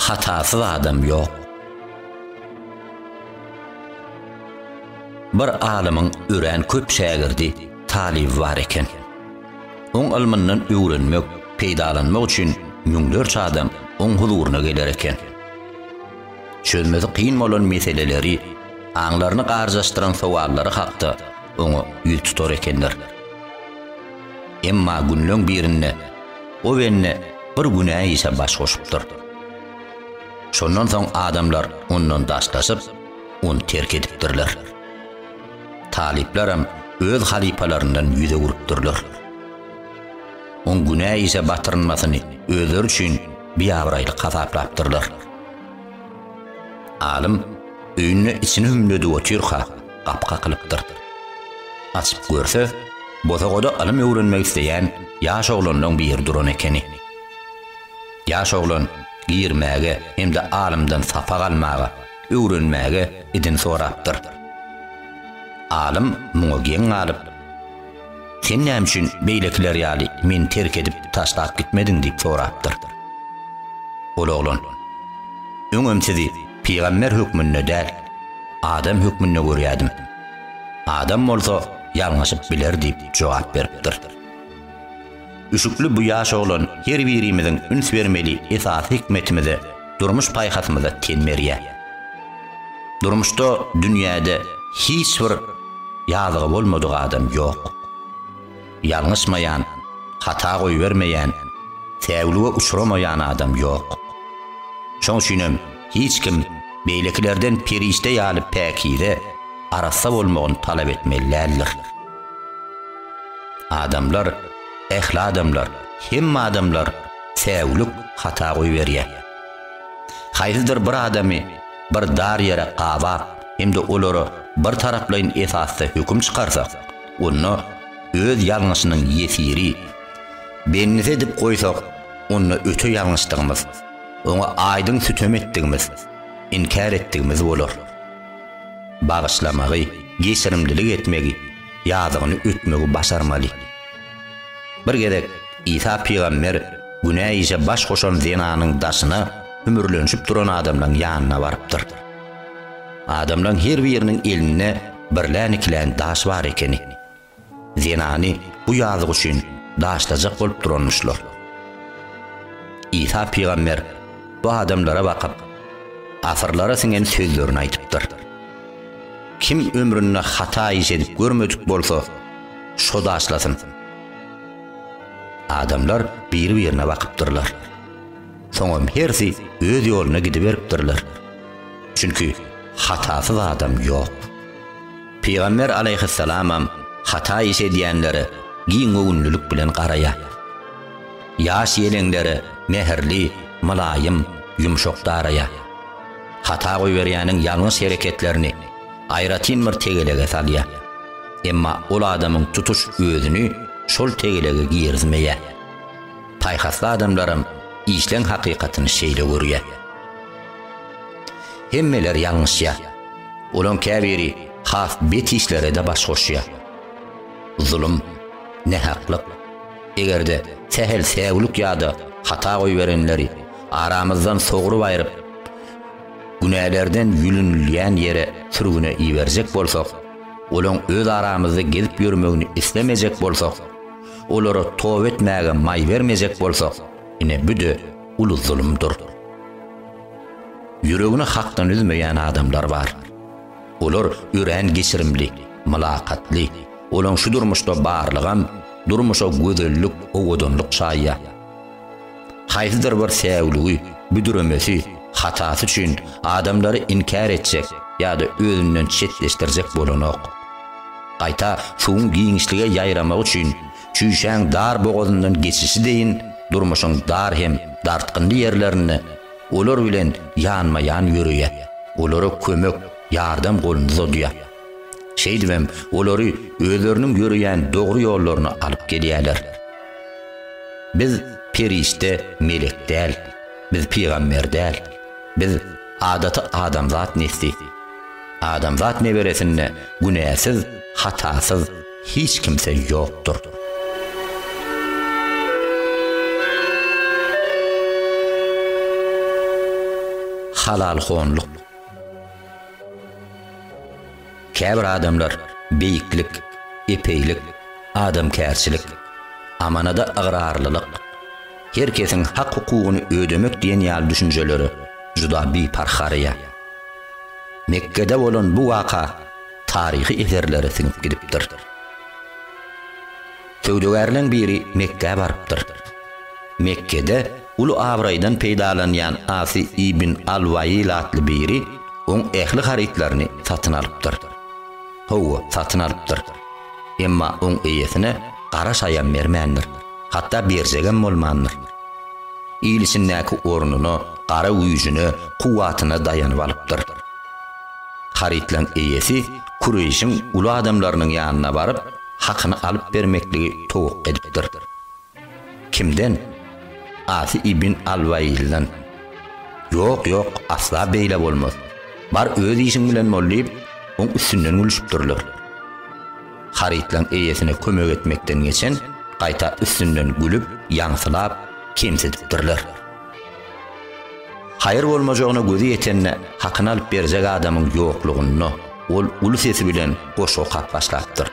Hatasyz adam ýok. Bir alymyň örän köp şägirdi, talyby bar eken. Oň ylmyndan öwrenmek, peýdalanmak üçin müňlerçe adam oň huzuryna geler eken. Çözmesi kyn bolan meseleleri, aňlaryny garjaşdyran sowallary hakda oňa ýüz tutar ekenler. Emma günleň birinde Owenni bir günä işe baş goşupdyr. Şondan soň adamlar ondan daşlaşyp, ony terk edipdirler. Talyplaram öz halypalaryndan ýüz öwrüpdirler. Oň günä işe batyrynmasyny özleri üçin biabraýlyk hasaplapdyrlar. Alym öýünde içini hümledip otyrka, gapy kakylypdyr. Açyp görse, bosagada ylym öwrenmek isleýän ýaş oglanlaň biri duran ekeni. Ýaş oglan girmäge hem-de alymdan sapak almaga, öwrenmäge idin sorapdyr. Alym muňa geň galyp. Sen näme üçin beýlekiler ýaly meni terk edip taşlap gitmediň diýip sorapdyr. Ol oglan, Öňem sizi pygamber hökmünde däl, adam hökmünde görýärdim. Adam bolsa ýalňyşyp biler diýip jogap beripdir. Üşükli bu ýaş oglan her birimiziň üns bermeli esasy hikmetimize, durmuş paýhasymyza ten berýär. Durmuşda dünýäde hiç bir ýazygy bolmadyk adam ýok. Ýalňyşmaýan, hata goýbermeýän, säwlige uçramaýan adam ýok. Şoň üçinem hiç kim beýlekilerden perişde ýaly päkize, arassa bolmagyny talap etmeli däldir. Adamlar, ähli adamlar, hemme adamlar säwlik hata goýberýär. Haýsydyr bir adamy bir dar ýere gabap hem-de olara bir taraplaýyn esasda höküm çykarsak, onda öz ýalňyşynyň ýesiri, bendisi edip goýsak, onda öte ýalňyşdygymyz, oňa aýdyň sütem etdigimiz, inkär etdigimiz bolar. Bagyşlamagy, geçirimlilik etmegi, ýazygyny ötmegi başarmaly. Bir gezek Isa pygamber günä işe baş goşan zenanyň daşyna hümürlenişip duran adamlaryň ýanyna barypdyr. Adamlaryň her biriniň elinde birlän-ikilän daş bar ekeni. Zenany bu ýazyk üçin daşlajak bolup duranmyşlar. Isa pygamber bu adamlara bakyp, asyrlara siňen sözlerini aýdypdyr. Kim ömründe hata iş edip görmedik bolsa, şo daşlasyn. Adamlar biri-birine bakypdyrlar. Soňam hersi öz ýoluna gidiberipdirler. Çünki hatasyz adam ýok. Pygamber alaýhyssalamam hata iş edýänlere giň göwünlilik bilen garaýar. Ýaş ýeleňlere mähirli, mylaýym, ýumşak daraýar. Hata goýberýäniň ýalňyş hereketlerini aýratyn bir tegelege salýar. Emma ol adamyň tutuş özüni şol tegelege girizmeýär. Paýhasly adamlaram işleň hakykatyny şeýle görýär. Hemmeler ýalňyşýar. Olaň käbiri has bet işlere-de baş goşýar. Zulum, nähaklyk. Eger-de sähel säwlik ýa-da hata goýberenleri aramyzdan sogrup aýryp, Günälerden ýülünilýän ýere sürgüne iberjek bolsak, olaň öz aramyzda gezip ýörmegini islemejek bolsak, olara toba etmäge maý bermejek bolsak, ine bu-da uly zulumdyr. Ýüregini Hakdan üzmeýän adamlar bar. Olar örän geçirimli, mylakatly, olaň şu durmuşda barlygam durmuşa gözellik, owadanlyk çaýýar. Haýsydyr bir säwligi, büdremesi, hatasy üçin adamlary inkär etjek ýa-da özünden çetleşdirjek bolanok. Gaýta suwuň giňişlige ýaýramagy üçin çüýşäň dar bogazyndan geçişi deýin durmuşyň dar hem dartgynly ýerlerinde olar bilen ýanma-ýan ýöreýär, olara kömek, ýardam goluny uzadýar. Şeýdibem, olary özleriniň ýöreýän dogry ýollaryna alyp gelýärler. Biz perişde, melek däl. Biz pygamber däl. Biz adaty adamzat nesli. Adamzat neberesinde günäsiz, hatasyz hiç kimse ýokdur. Halalhonlyk. Käbir adamlar beýiklik, epeýlik, adamkärçilik, amanada ygrarlylyk, her kesiň hak-hukugyny ödemek diýen ýaly düşünjelere juda biparh garaýar. Mekgede bolan bu waka taryhy eserlere siňip gidipdir. Söwdagärleň biri Mekgä barypdyr. Mekgede uly abraýdan peýdalanýan Asy ibn al-Waýyl atly biri oň ähli harytlaryny satyn alypdyr. Hawa, satyn alypdyr. Emma oň eýesine gara şaýam bermändir, hatda berjegem bolmandyr. Il içindäki ornuna, gara güýjüne, kuwwatyna daýanyp alypdyr. Harytlaň eýesi Kureýşiň uly adamlarynyň ýanyna baryp, hakyny alyp bermekligi towuk edipdir. Kimden? Asy ibn al-Wailden. Ýok, ýok, asla beýle bolmaz. Bar öz işiň bilen bol diýip, oň üstünden gülüşipdirler. Harytlaryň eýesine kömek etmekden geçen gaýta üstünden gülüp, ýaňsylap, kemsidipdirler. Haýyr bolmajagyna gözi ýetende hakyny alyp berjek adamyň ýoklugynda ol uly sesi bilen goşgy okap başlapdyr.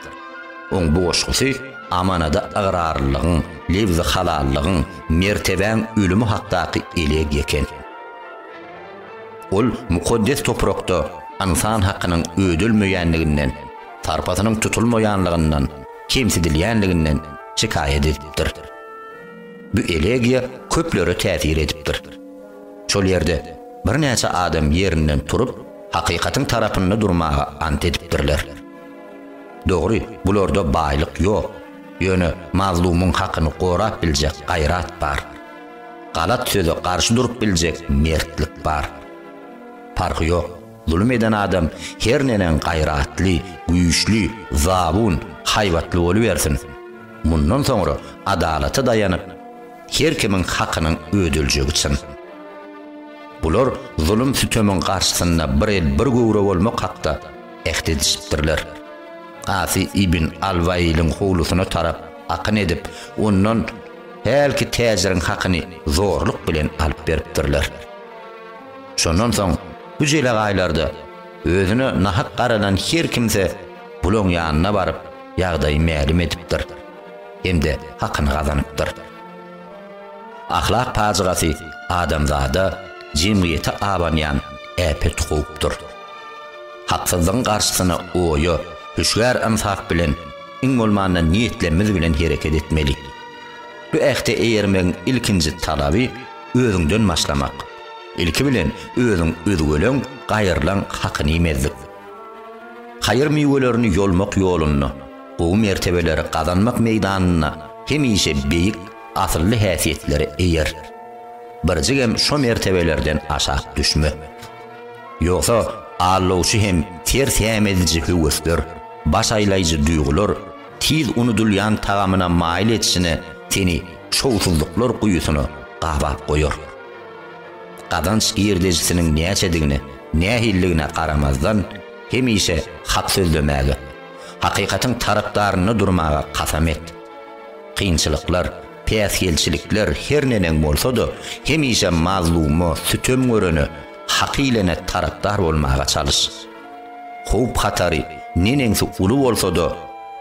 Oň bu goşgusy amanada ygrarlylygyň, lebzi halallygyň, mertebäň ölümi hakdaky elegýa eken. Ol mukaddes toprakda ynsan hakynyň ödelmeýänliginden, sarpasynyň tutulmaýanlygyndan, kemsidilýänliginden şikaýat edipdir. Bu elegiýa köplere täsir edipdir. Şol ýerde birnäçe adam ýerinden turup, hakykatyň tarapynda durmaga ant edipdirler. Dogry, bularda baýlyk ýok, ýöne mazlumyň hakyny gorap biljek gaýrat bar. Galat söze garşy durup biljek mertlik bar. Parhy ýok, zulum eden adam her neneň gaýratly, güýçli, zabun, haýbatly bolubersin. Mundan soňra adalata daýanyp, her kimiň hakynyň ödeljegi çyn. Bular zulum-sütemiň garşysynda bir el, bir göwre bolmak hakda äht edişipdirler. Asy ibn al-Wailiň howlusyna tarap akyn edip, ondan hälki täjiriň hakyny zorluk bilen alyp beripdirler. Şondan soň bu jelegaýlarda Özüne nahak garalan her kimse bulaň ýanyna baryp, ýagdaýy mälim edipdir hem-de hakyny gazanypdyr. Ahlak pajygasy adamzada, jemgyýete abanýan äpet howpdur. Haksyzlygyň garşysyna oýa, hüşgär ynsap bilen, iň bolmanda niýetlemiz bilen hereket etmeli. Bu ähte eýermegiň ilkinji talaby özüňden başlamak. Ilki bilen özüň üzgeleň, gaýyrlaň hakyny iýmezlik. Haýyr miwelerini ýolmak ýolunda, gowy mertebeleri gazanmak meýdanynda hemişe beýik, asylly häsiýetlere eýer. Birjigem şo mertebelerden aşak düşme. Ýogsa, aldawçy hem ters hem ediji höwesler, baş aýlaýjy duýgular, tiz unudylýan tagamyna maýyl etişine seni şowsuzlyklar guýusyna gabap goýar. Gazanç girdejisiniň näçedigine, nähililigine garamazdan, hemişe hak sözlemäge, hakykatyň tarapdarynda durmaga kasam et. Kynçylyklar, päsgelçilikler her neneň bolsa-da, hemişe mazluma, sütem görene, hak iýlene tarapdar bolmaga çalyş. Howp-hatary neneňsi uly bolsa-da,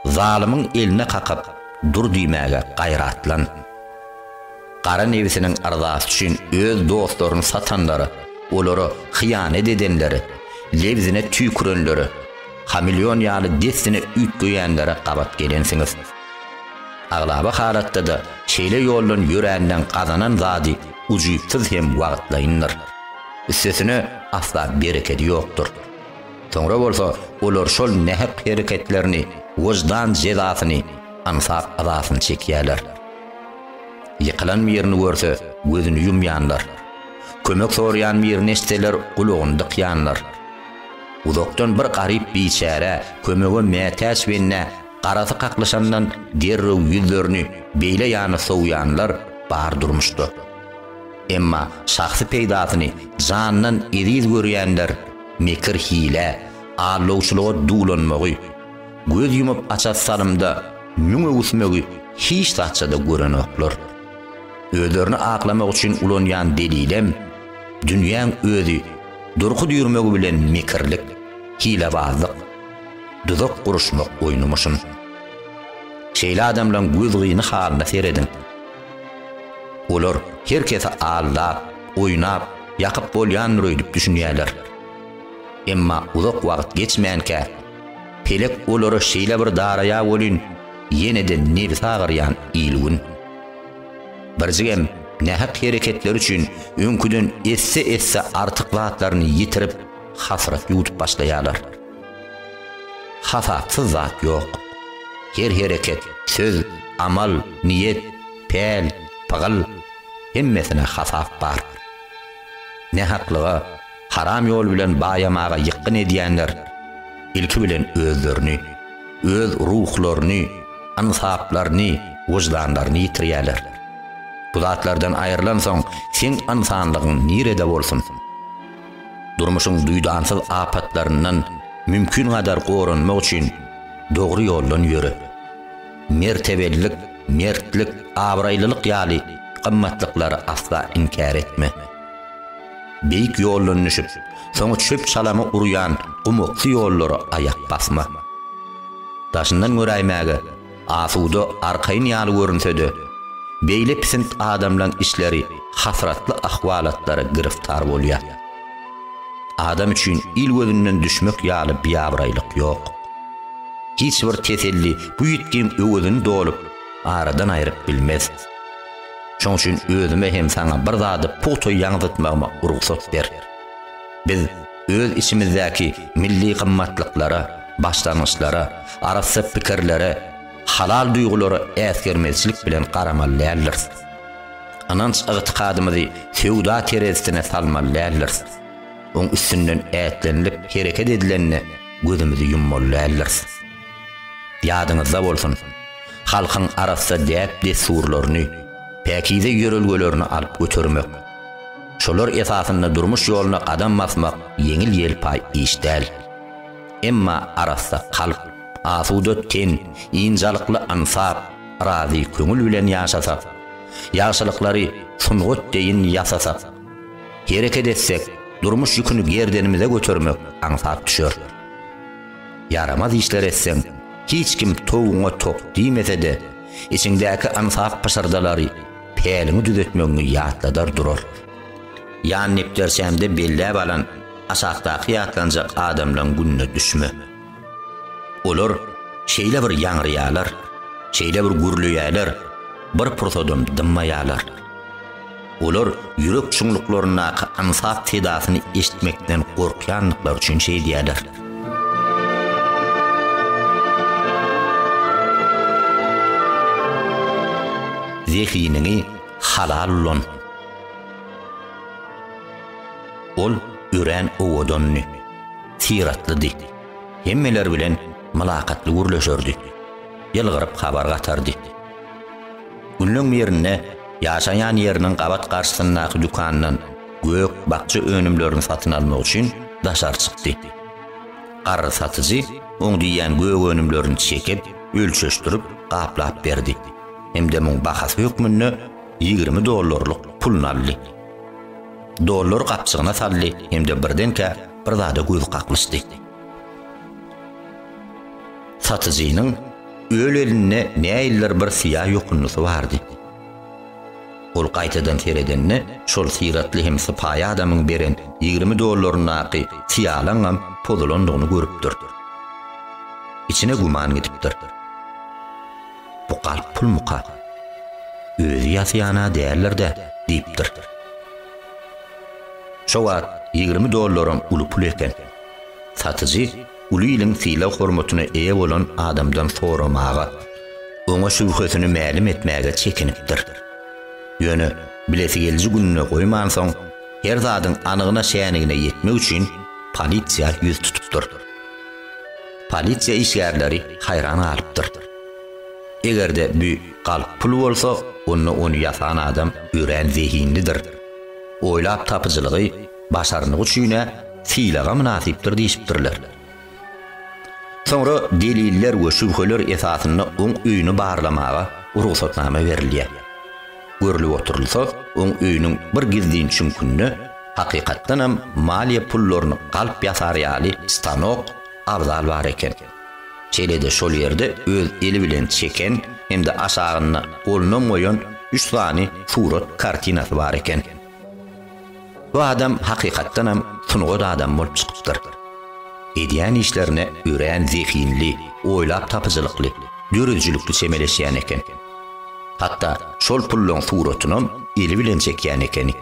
zalymyň eline kakyp dur diýmäge gaýratlan. Gara nebsiniň yrzasy üçin öz dostlaryny satanlara, olara hyýanat edenlere, lebzine tüýkürenlere, hameleon ýaly dessine üýtgeýänlere gabat gelensiňiz. Aglaba halatda-da şeýle ýoldan ýöränden gazanan zady ujypsyz hem wagtlaýyndyr. Üstesine asla berekedi ýokdur. Soňra bolsa olar şol nähak hereketlerini wyždan jezasyny, ynsap azasyny çekýärler. Ýykylan birini görse, gözüni ýumýanlar. Kömek soraýan birini eçseler, gulagyny dykýanlar. Uzakdan bir garyp biçärä, kömege mätäç bennä garasy kaklyşandan derrew ýüzlerini beýle ýana sowýanlar bar durmuşda. Emma şahsy peýdasyny jandan eziz görýänler mekir-hilä, aldawçylyga duwlanmagy, Göz ýumup açar salymda müň öwüsmegi hiç zatça-da görenoklar. Özlerini aklamak üçin ulanýan delilem, dünýäň özi durky düýrmegi bilen mekirlik, hilebazlyk, duzak guruşmak oýnumyşyn. Şeýle adamlaň göz gyny halyna serediň. Olar her kesi aldap, oýnap, ýakyp bolýandyr öýdüp düşünýärler. Emma uzak wagt geçmänkä, Pelek olara şeýle bir daraýa welin, ýene-de nebsi agyrýan il-gün. Birjigem nähak hereketleri üçin öňküden esse-esse artyk zatlaryny ýitirip, hasrat ýuwdup başlaýarlar. Hasapsyz zat ýok. Her hereket, söz, amal, niýet, päl, pygyl, hemmesine hasap bar. Nähaklyga. Haram ýol bilen baýamaga ýykgyn edýänler ilki bilen özlerini, öz ruhlaryny, ynsaplaryny, wyždanlaryny ýitirýärler. Bu zatlardan aýrylansoň seň ynsanlygyň nirede bolsun? Durmuşyň duýdansyz apatlaryndan mümkin gadar goranmak üçin dogry ýoldan ýöre. Mertebelilik, mertlik, abraýlylyk ýaly gymmatlyklary asla inkär etme. Beýik ýoldan düşüp, soňy çöp-çalamy urýan gumaksy ýollara aýak basma. Daşyndan göräýmäge asuda, arkaýyn ýaly görünse-de, beýle pisint adamlaň işleri hasratly ahwalatlara giriftar bolýar. Adam üçin il gözünden düşmek ýaly biabraýlyk ýok. Hiç bir teselli bu ýitgiň öwezini dolup, aradan aýryp bilmez. Şoň üçin özüme hem saňa bir zady pugta ýaňzytmagyma rugsat ber. Biz öz içimizdäki milli gymmatlyklara, başlangyçlara, arassa pikirlere, halal duýgulara äsgermezçilik bilen garamaly däldiris. Ynanç-ygtykadymyzy söwda terezisine salmaly däldiris. Oň üstünden ätlenilip hereket edilende gözümizi ýummaly däldiris. Ýadyňyzda bolsun, halkyň arassa däp-dessurlaryny, päkize ýörelgelerini alyp götermek, şolar esasynda durmuş ýoluna gadam basmak ýeňil-ýelpaý iş däl. Emma arassa kalp, asuda ten, ynjalykly ynsap, razy köňül bilen ýaşasak, ýagşylyklary sungat deýin ýasasak, hereket etsek, durmuş ýüküni gerdenimize götermek aňsat düşer. Ýaramaz işler etseň, hiç kim towugyňa tok diýmese-de, içiňdäki aňsat pyşyrdalary päliňi düzetmegiňi ýatladar durar. Ýan nepderçämde belläp alan aşakdaky ýatlanjak adamlaryň gününe düşme. Olar şeýle bir ýaňraýarlar, şeýle bir gürleýärler, bir pursadam dymmaýarlar. Olar ýürek çuňluklaryndaky aňsat sedasyny eşitmekden gorkýandyklary üçin şeýdýärler. zehiniňi halal ulan. Ol örän owadandy, syratlydy. Hemmeler bilen mylakatly gürleşerdi. Ýylgyryp habar gatardy. Günleň birinde ýaşaýan ýeriniň gabat garşysyndaky dükandan gök, bakja önümlerini satyn almak üçin daşary çykdy. Garry satyjy oň diýýän gök önümlerini çekip, ölçeşdirip, gaplap berdi hem-de muň bahasy hökmünde ýigrimi dollarlyk puluny aldy. Dollary gapjygyna saldy hem-de birdenkä bir zada gözi kaklyşdy. Satyjynyň öl elinde näildir bir syýa ýokunnysy bardy. Ol gaýtadan seredende, şol syratly hem sypaýy adamyň beren ýigrimi dollaryndaky syýalaňam pozulandygyny görüpdir. Içine güman gidipdir. Bu galp pulmyka? Özi ýasýan-a däldir-dä? diýipdir. Şo wagt ýigrimi dollaram uly pul eken. Satyjy uly iliň sylag-hormatyna eýe bolan adamdan soramaga, oňa şübhesini mälim etmäge çekinipdir. Ýöne bilesi geliji gününe goýmansoň, her zadyň anygyna-şänigine ýetmek üçin polisiýa ýüz tutupdyr. Polisiýa işgärleri haýran galypdyr. Eger-de bu galp pul bolsa, onda ony ýasan adam örän zehinlidir. Oýlap tapyjylygy, Başarnygy üçin-ä sylaga mynasypdyr diýşipdirler. Soňra deliller we şübheler esasynda oň öýüni barlamaga rugsatnama berilýär. Görlüp oturylsa, oň öýüniň bir gizlin çüňkünde hakykatdanam maliýe pullaryny galp ýasar ýaly stanok, abzal bar eken. Şeýle-de şol ýerde öz eli bilen çeken hem-de aşagynda golunam goýan üç sany surat kartinasy bar eken. Bu adam hakykatdanam sungat adamy bolup çykypdyr. Edýän işlerine örän zehinli, oýlap tapyjylykly, döredijilikli çemeleşýän eken. Hatda şol pullaryň suratynam eli bilen çekýän ekeni.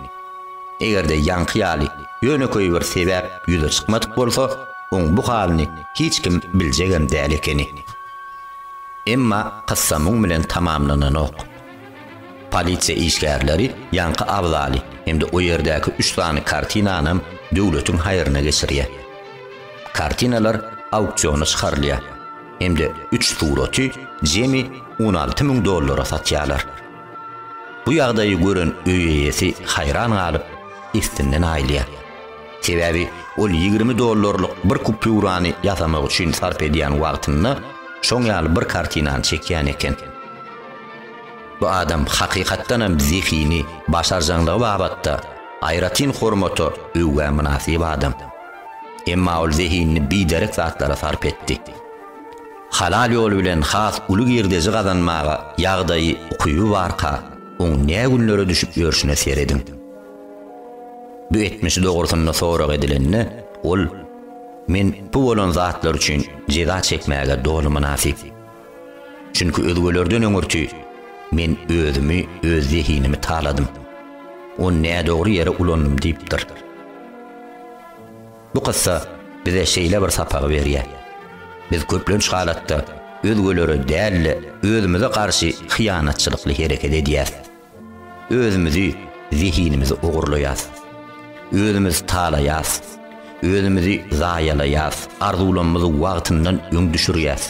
Eger-de ýaňky ýaly ýönekeý bir sebäp ýüze çykmadyk bolsa, oň bu halyny hiç kim biljegem däl ekeni. Emma kyssa muň bilen tamamlananok. Polisiýa işgärleri ýaňky abzaly hem-de o ýerdäki üç sany kartinanam döwletiň haýryna geçirýär. Kartinalar auksiona çykarylýar hem-de üç suraty jemi on alty müň dollara satýarlar. Bu ýagdaýy gören öý eýesi haýran galyp, issinden aýylýar. Sebäbi ol ýigrimi dollarlyk bir kupýurany ýasamak üçin sarp edýän wagtynda şoň ýaly bir kartinany çekýän eken. Bu adam hakykatdan hem zehini, başarjaňlygy babatda aýratyn hormata, öwgä mynasyp adam. Emma ol zehinini biderek zatlara sarp etdi. Halal ýol bilen has uly girdeji gazanmaga ýagdaýy, ukyby barka, oň ne günlere düşüp ýörşüne serediň. Bu etmişi dogrusynda sorag edilende, ol, Men bu bolan zatlar üçin jeza çekmäge doly mynasyp. Çünki özgelerden öňürti men özümi, öz zehinimi taladym. Ony nädogry ýere ulandym diýipdir. Bu kyssa bize şeýle bir sapagy berýär. Biz köplenç halatda özgelere däl-de, özümize garşy hyýanatçylykly hereket edýäris. Özümizi, zehinimizi ogurlaýas. Özümiz talaýas. Özümizi zaýalaýas, arzuwlamyzy wagtyndan öň düşürýäs.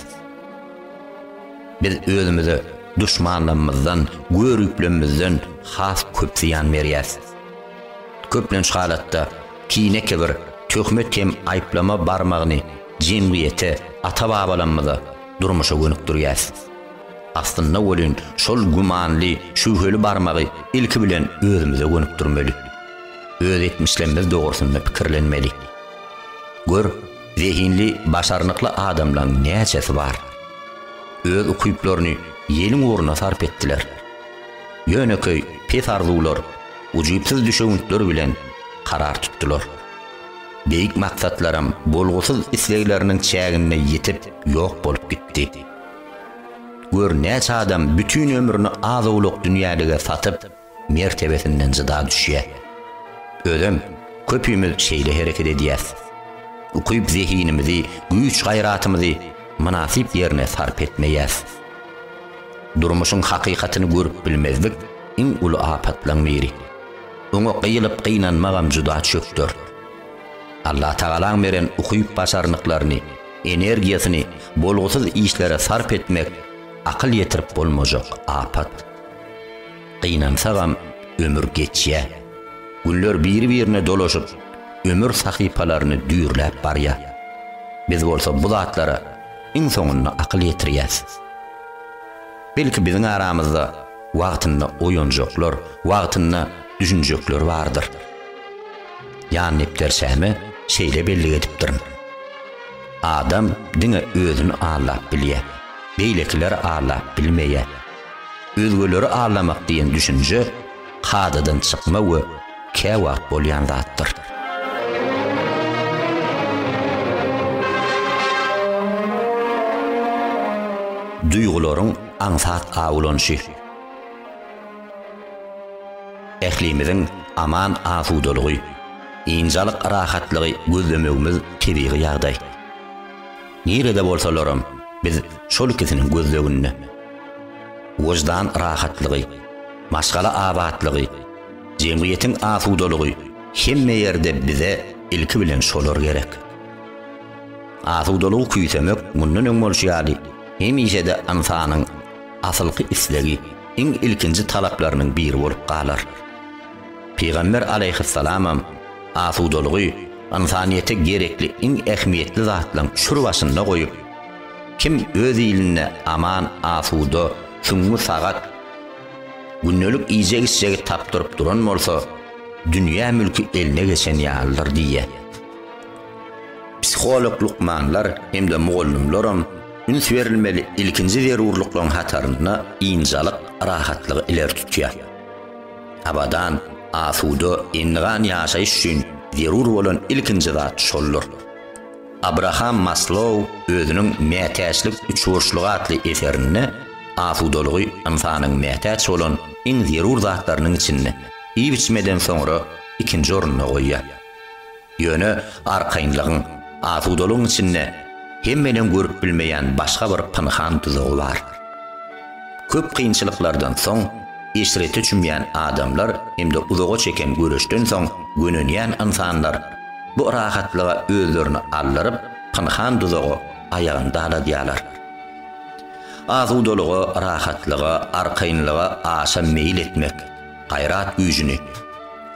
Biz özümize duşmanlamyzdan, görüplemizden has köp zyýan berýäs. Köplenç halatda kine-kibir, töhmet hem aýyplama barmagyny jemgyýete, ata-babalamyza, durmuşa gönükdirýäs. Aslynda welin, şol gümanly, şübheli barmagy ilki bilen özümize gönükdirmeli. Öz etmişlerimiz dogrusynda pikirlenmeli. Gör, zehinli, başarnykly adamlaryň näçesi bar? Öz ukyplaryny ýeliň ugruna sarp etdiler. Ýönekeý, pes arzuwlar, ujypsyz düşewüntler bilen karar tutdular. Beýik maksatlaram bolgusyz islegleriniň çäginde ýitip, ýok bolup gitdi. Gör näçe adam bütin ömrüni az-owlak dünýälige satyp, mertebesinden jyda düşýär. Özem köpimiz şeýle hereket edýäs. Ukyp zehinimizi, güýç-gaýratymyzy mynasyp ýerine sarp etmeýäs. Durmuşyň hakykatyny görüp bilmezlik iň uly apatlaň biri. Oňa gyýylyp gynanmagam juda çökder. Allatagalaň beren ukyp-başarnyklaryny, Energiýasyny bolgusyz işlere sarp etmek akyl ýetirip bolmajak apat. Gynansagam, ömür geçýär. Günler biri-birine dolaşyp, ömür sahypalaryny düýrläp barýar. Biz bolsa bu zatlara iň soňunda akyl ýetirýäs. Belki biziň aramyzda wagtynda oýanjaklar, wagtynda düşünjekler bardyr. Jan depderçäme şeýle bellik edipdirin, Adam diňe özüni aldap bilýär, beýlekiler aldap bilmeýär. Özgeleri aldamak diýen düşünje kadadan çykma we käwagt bolýan zatdyr. Duýgularyň aňsat awlanyşy. Ählimiziň aman-asudalygy, ynjalyk rahatlygy gözlemegimiz tebigy ýagdaý. Nirede bolsalaram, biz şol ikisiniň gözleginde. Wyždan rahatlygy, maşgala abatlygy, jemgyýetiň asudalygy hemme ýerde bize ilki bilen şolar gerek. Asudalygy küýsemek mundan öň bolşy ýaly hemişe-de ynsanyň asylky islegi, iň ilkinji talaplarynyň biri bolup galar. Pygamber alaýhyssalamam asudalygy ynsanyýete gerekli iň ähmiýetli zatlaryň şur başynda goýup, Kim öz ilinde aman, asuda, süňňi sagat, gündelik iýjek-içjegi tapdyryp duran bolsa, dünýä mülki eline geçen ýalydyr diýýär. Psiholog lukmanlar hem-de mugallymlaram üns berilmeli ilkinji zerurlyklaryň hatarynda ynjalyk, rahatlygy ileri tutýar. Abadan, asuda, endigan ýaşaýyş üçin zerur bolan ilkinji zat şoldur. Abraham Maslow özüniň Mätäçlik üçburçlugy atly eserinde asudalygy ynsanyň mätäç bolan iň zerur zatlarynyň içinde, iýip-içmeden soňra, ikinji orunda goýýar. Ýöne arkaýynlygyň, asudalygyň içinde hemmenin görüp bilmeýän başga bir pynhan duzagy bar. Köp kynçylyklardan soň eşrete çümýän adamlar hem-de uzaga çeken göreşden soň gönenýän ynsanlar bu rahatlyga özlerini aldyryp, pynhan duzagy aýagyn daladýarlar. Asudalyga, rahatlyga, arkaýynlyga aşa meýil etmek. gaýrat güýjüni,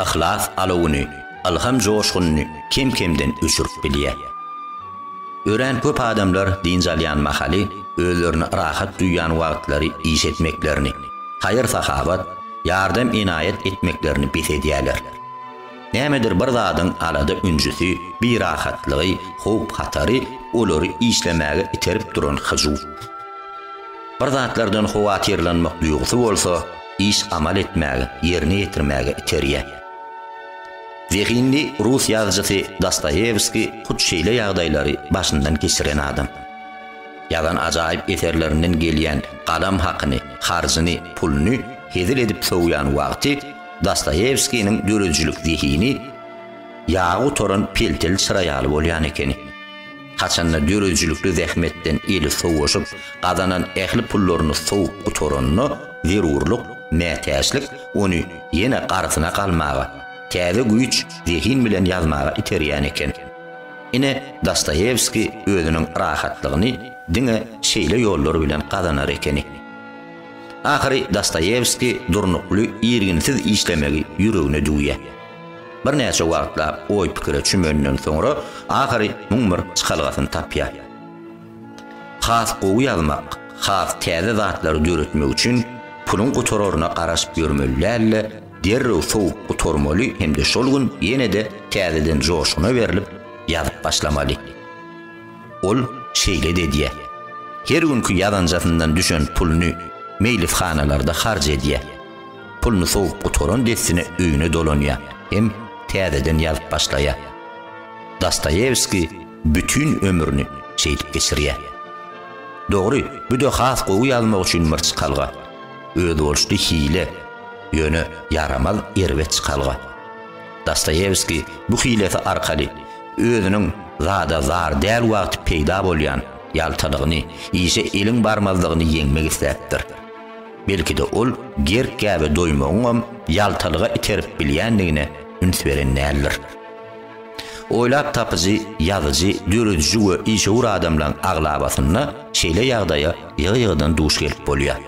yhlas alawuny, ylham joşgunyny kem-kemden öçürip bilýär. Örän köp adamlar dynç alýan mahaly özlerini rahat duýýan wagtlary iş etmeklerini, haýyr-sahawat, ýardam-enaýat etmeklerini bes edýärler. Nämedir bir zadyň alada-ünjüsi, birahatlygy, howp-hatary olary işlemäge iterip duran hyjuw. Bir zatlardan howatyrlanmak duýgusy bolsa, iş amal etmäge, ýerine ýetirmäge iterýär. Zehinli rus ýazyjysy Dostoýewskiý hut şeýle ýagdaýlary başyndan geçiren adam. Ýazan ajaýyp eserlerinden gelýän galam hakyny, harjyny, puluny hezil edip sowýan wagty Dostoýewskiniň döredijilik zehini ýagy gutaran pelteli çyra ýaly bolýan ekeni. Haçanda döredijilikli zähmetden eli sowaşyp, gazanan ähli pullaryny sowup gutaranda, zerurlyk, mätäçlik ony ýene garsyna galmaga, täze güýç, zehin bilen ýazmaga iterýän eken. Ine, Dostoýewskiý özüniň rahatlygyny diňe şeýle ýollar bilen gazanar ekeni. Ahyry Dostoýewskiý durnukly, irginsiz işlemegi ýüregine düwýär. Birnäçe wagtlap oý-pikire çümenden soňra ahyry muň bir çykalgasyny tapýar. Has gowy ýazmak, has täze zatlary döretmek üçin puluň gutararyna garaşyp ýörmeli däl-de, derrew sowup gutarmaly hem-de şol gün ýene-de täzeden joşguna berlip, ýazyp başlamaly. Ol şeýle-de edýär. Her günki ýazanjasyndan düşen puluny meýlishanalarda harç edýär. Puluny sowup gutaran dessine öýüne dolanýar hem täzeden ýazyp başlaýar. Dostoýewskiý bütin ömrüni şeýdip geçirýär. Dogry, bu-da has gowy ýazmak üçin bir çykalga, özboluşly hile, ýöne ýaramaz erbet çykalga. Dostoýewskiý bu hilesi arkaly özüniň zada zar däl wagty peýda bolýan ýaltalygyny, işe eliň barmazlygyny ýeňmek isläpdir. Belki-de ol gerk-gäbe doýmagyňam ýaltalyga iterip bilýändigine üns beren däldir. Oýlap tapyjy, ýazyjy, dörediji we işewür adamlaryň aglabasynda şeýle ýagdaýa ýygy-ýygydan duş gelip bolýar.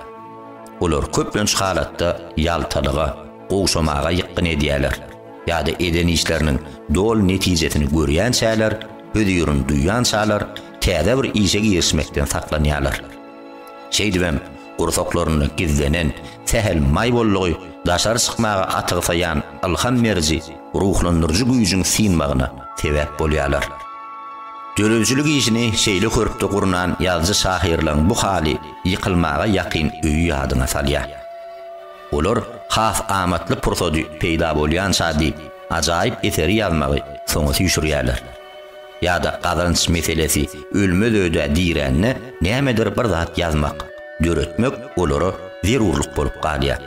Olar köplenç halatda ýaltalyga, gowşamaga ýykgyn edýärler ýa-da eden işleriniň doly netijesini görýänçäler, hözirini duýançalar täze bir işe girişmekden saklanýarlar. Şeýdibem, Gursaklarynda gizlenen sähel maý bollugy daşary çykmaga atygsaýan ylham beriji, ruhlandyryjy güýjüň synmagyna sebäp bolýarlar. Döredijilik işini şeýle körpde gurnan ýazyjy-şahyrlaryň bu haly ýykylmaga ýakyn öýi ýadyňa salýar. Olar has amatly pursady peýda bolýançady ajaýyp eseri ýazmagy soňa süýşürýärler. ýa-da gazanç meselesi ölmez öýdä dirände nämedir bir zat ýazmak, döretmek olara zerurlyk bolup galýar.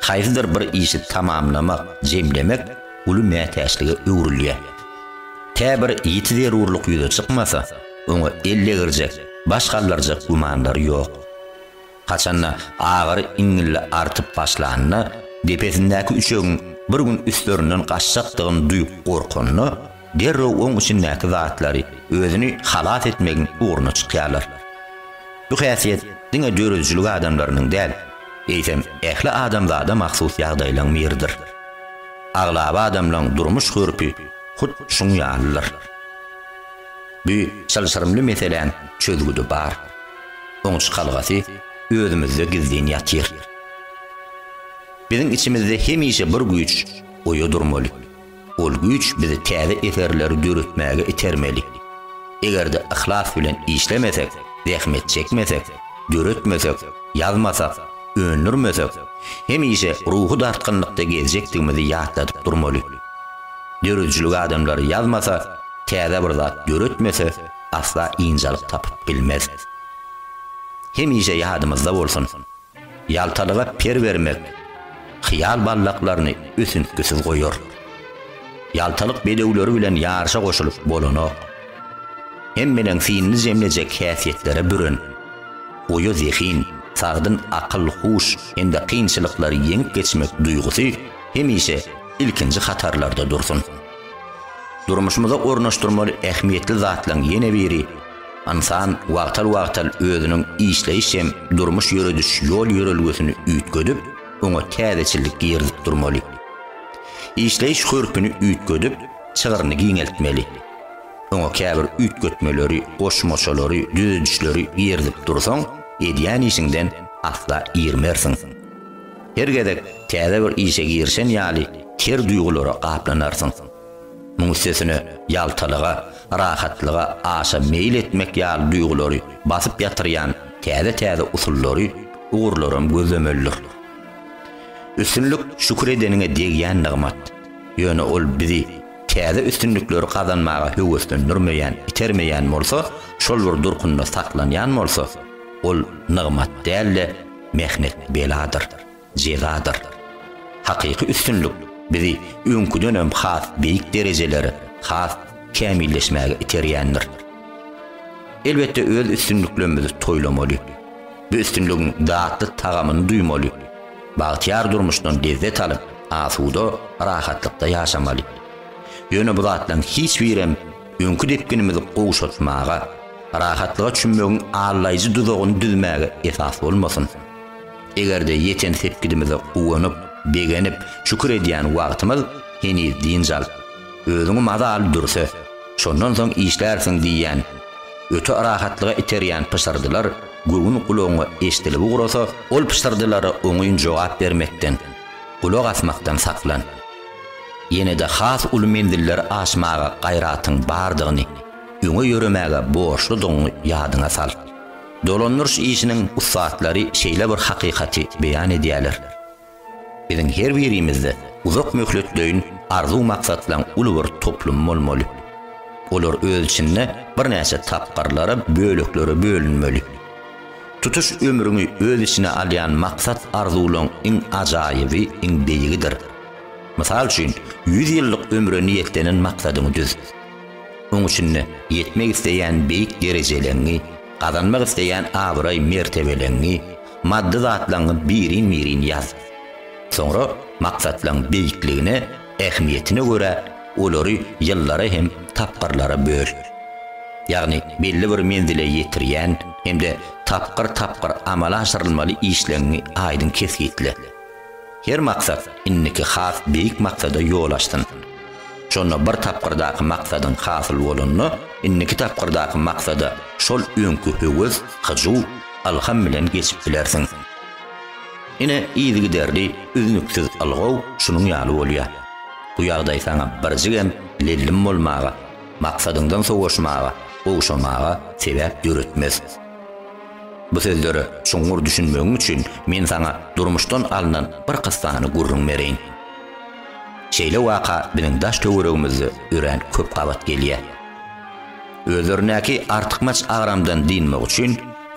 Haýsydyr bir işi tamamlamak, jemlemek uly mätäçlige öwrülýär. Tä bir ýiti zerurlyk ýüze çykmasa, oňa ellegirjek, baş galdyrjak gümanlary ýok. Haçanda agyry iňňilli artyp başlanda, depesindäki üçegiň bir gün üstlerinden gaçjakdygyny duýup gorkanda, derrew oň içindäki zatlary özüni halas etmegiň ugruna çykýarlar. Bu häsiýet diňe döredijilik adamlarynyň däl, eýsem ähli adamzada mahsus ýagdaýlaň biridir. Aglaba adamlaň durmuş hörpi hut şuň ýalydyr. Bu çylşyrymly meseläň çözgüdi bar. Oň çykalgasy özümizde gizlin ýatyr. Biziň içimizde hemişe bir güýç oýa durmaly. Ol güýç bizi täze eserleri döretmäge itermeli. Eger-de yhlas bilen işlemesek, zähmet çekmesek, döretmesek, ýazmasak, öndürmesek, hemişe ruhy dartgynlykda gezjekdigimizi ýatladyp durmaly. Döredijilik adamlary ýazmasa, täze bir zat döretmese, asla ynjalyk tapyp bilmez. Hemişe ýadymyzda bolsun, ýaltalyga per bermek hyýal ballaklaryny ötüntgisiz goýar. Ýaltalyk bedewleri bilen ýaryşa goşulyp bolanok. Hemmenem synly jemlejek häsiýetlere büren, oýa zehin, sagdyn akyl-huş hem-de kynçylyklary ýeňip geçmek duýgusy hemişe ilkinji hatarlarda dursun! Durmuşymyza ornaşdyrmaly ähmiýetli zatlaryň ýene biri, ynsan wagtal-wagtal özüniň işleýiş hem durmuş ýörediş ýol-ýörelgesini üýtgedip, oňa täzeçillik girizip durmaly. Işleýiş hörpüni üýtgedip, çygryny giňeltmeli. Oňa käbir üýtgetmeleri, goşmaçalary, düzedişleri girizip dursaň, edýän işiňden asla irmersiň. Her gezek täze bir işe girişen ýaly ter duýgulara gaplanarsyň. Muň üstesine ýaltalyga, rahatlyga aşa meýil etmek ýaly duýgulary basyp ýatyrýan täze-täze usullary, ugurlaram gözlemelidir. Üstünlik şükür edeniňe degýän nygmat. Ýöne ol bizi täze üstünlikleri gazanmaga höweslendirmeýän, itermeýän bolsa, şol bir durkunda saklanýan bolsa, ol nygmat däl-de, Mähnet beladyr, jezadyr. Hakyky üstünlik bizi öňküdenem has beýik derejelere, has kämilleşmäge iterýändir. Elbetde öz üstünliklerimizi toýlamaly. Bu üstünligiň datly tagamyny duýmaly. Bagtyýar durmuşdan lezzet alyp, asuda, rahatlykda ýaşamaly. Ýöne bu zatlaryň hiç birem öňki depginimizi gowşatmaga, rahatlyga çümmegiň allaýjy duzagyny düzmäge esas bolmasyn. Eger-de ýeten sepgidimize guwanyp, begenip, şükür edýän wagtymyz heniz dynç al, özüňi maza al dürse, şondan soň işlärsiň diýýän, öte rahatlyga iterýän pyşyrdylar göwün gulagyňa eşdilip ugrasa, ol pyşyrdylara oňyn jogap bermekden, gulak asmakdan saklan. Ýene-de has uly menziller aşmaga gaýratyň bardygyny, öňe ýöremäge borçludygyňy ýadyňa sal. Dolandyryş işiniň ussatlary şeýle bir hakykaty beýan edýärler, Biziň her birimizde uzak möhletleýin arzuw-maksatlaryň uly bir toplumy bolmaly. Olar öz içinde birnäçe tapgyrlara, böleklere bölünmeli. Tutuş ömrüňi öz içine alýan maksat-arzuwlaryň iň ajaýyby, iň beýigidir. Mysal üçin, ýüz ýyllyk ömre niýetlenen maksadyňy düz. Oň içinde ýetmek isleýän beýik derejeleňňi, gazanmak isleýän abraý-mertebeleňňi, maddy zatlaňňy birin-birin ýaz. Soňra maksatlaň beýikligine, ähmiýetine görä, olary ýyllara hem tapgyrlara böl. Ýagny belli bir menzile ýetirýän hem-de tapgyr-tapgyr amala aşyrylmaly işleňňi aýdyň kesgitle. Her maksat indiki has beýik maksada ýol açsyn. Şonda bir tapgyrdaky maksadyň hasyl bolanda, indiki tapgyrdaky maksada şol öňki höwes, hyjuw, ylham bilen geçip bilersiň. Ine, yzygiderli, üznüksiz ylgaw şunuň ýaly bolýar. Bu ýagdaý saňa birjigem lellim bolmaga, maksadyňdan sowaşmaga, gowşamaga sebäp döretmez. Bu sözlere çuňňur düşünmegiň üçin men saňa durmuşdan alnan bir kyssany gürrüň bereýin. Şeýle waka biziň daş-töweregimizde örän köp gabat gelýär. Özlerindäki artykmaç agramdan dynmak üçin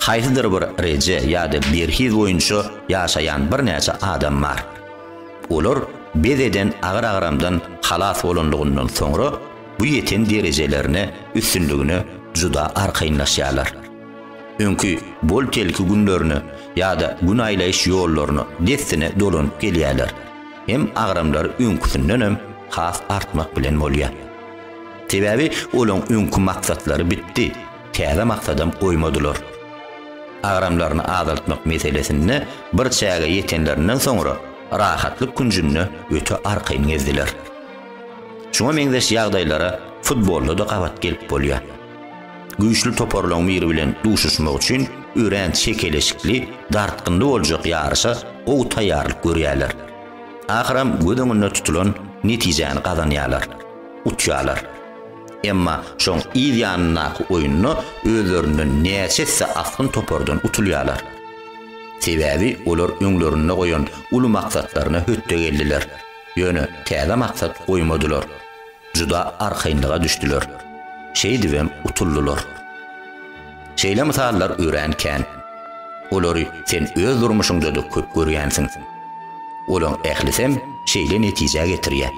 haýsydyr bir reje ýa-da berhiz boýunça ýaşaýan birnäçe adam bar. Olar bes eden agyr agramdan halas bolanlygyndan soňra bu ýeten derejelerine, üstünligine juda arkaýynlaşýarlar. Öňki bol-telki günlerine ýa-da gün aýlaýyş ýollaryna dessine dolanyp gelýärler. Hem agramlary öňküsindenem has artmak bilen bolýar. Sebäbi olaň öňki maksatlary bitdi, täze maksadam goýmadylar. Agramlaryny azaltmak meselesinde bir çäge ýetenlerinden soňra rahatlyk künjünde öte arkaýyn gezdiler. Şuňa meňzeş ýagdaýlara futbolda-da gabat gelip bolýar. Güýçli toparlaryň biri bilen duşuşmak üçin örän çekeleşikli, dartgynly boljak ýaryşa gowy taýýarlyk görýärler. Ahyram göz öňünde tutulan netijäni gazanýarlar, utýarlar. Emma şoň yz ýanyndaky oýunda özlerinden näçe esse asgyn topardan utulýarlar. Sebäbi olar öňlerinde goýan uly maksatlaryna hötde geldiler, ýöne täze maksat goýmadylar. juda arkaýynlyga düşdüler, şeýdibem utuldylar. Şeýle mysallar örän kän. Olary sen öz durmuşyňda-da köp görýänsiň. Olaň ählisem şeýle netijä getirýär.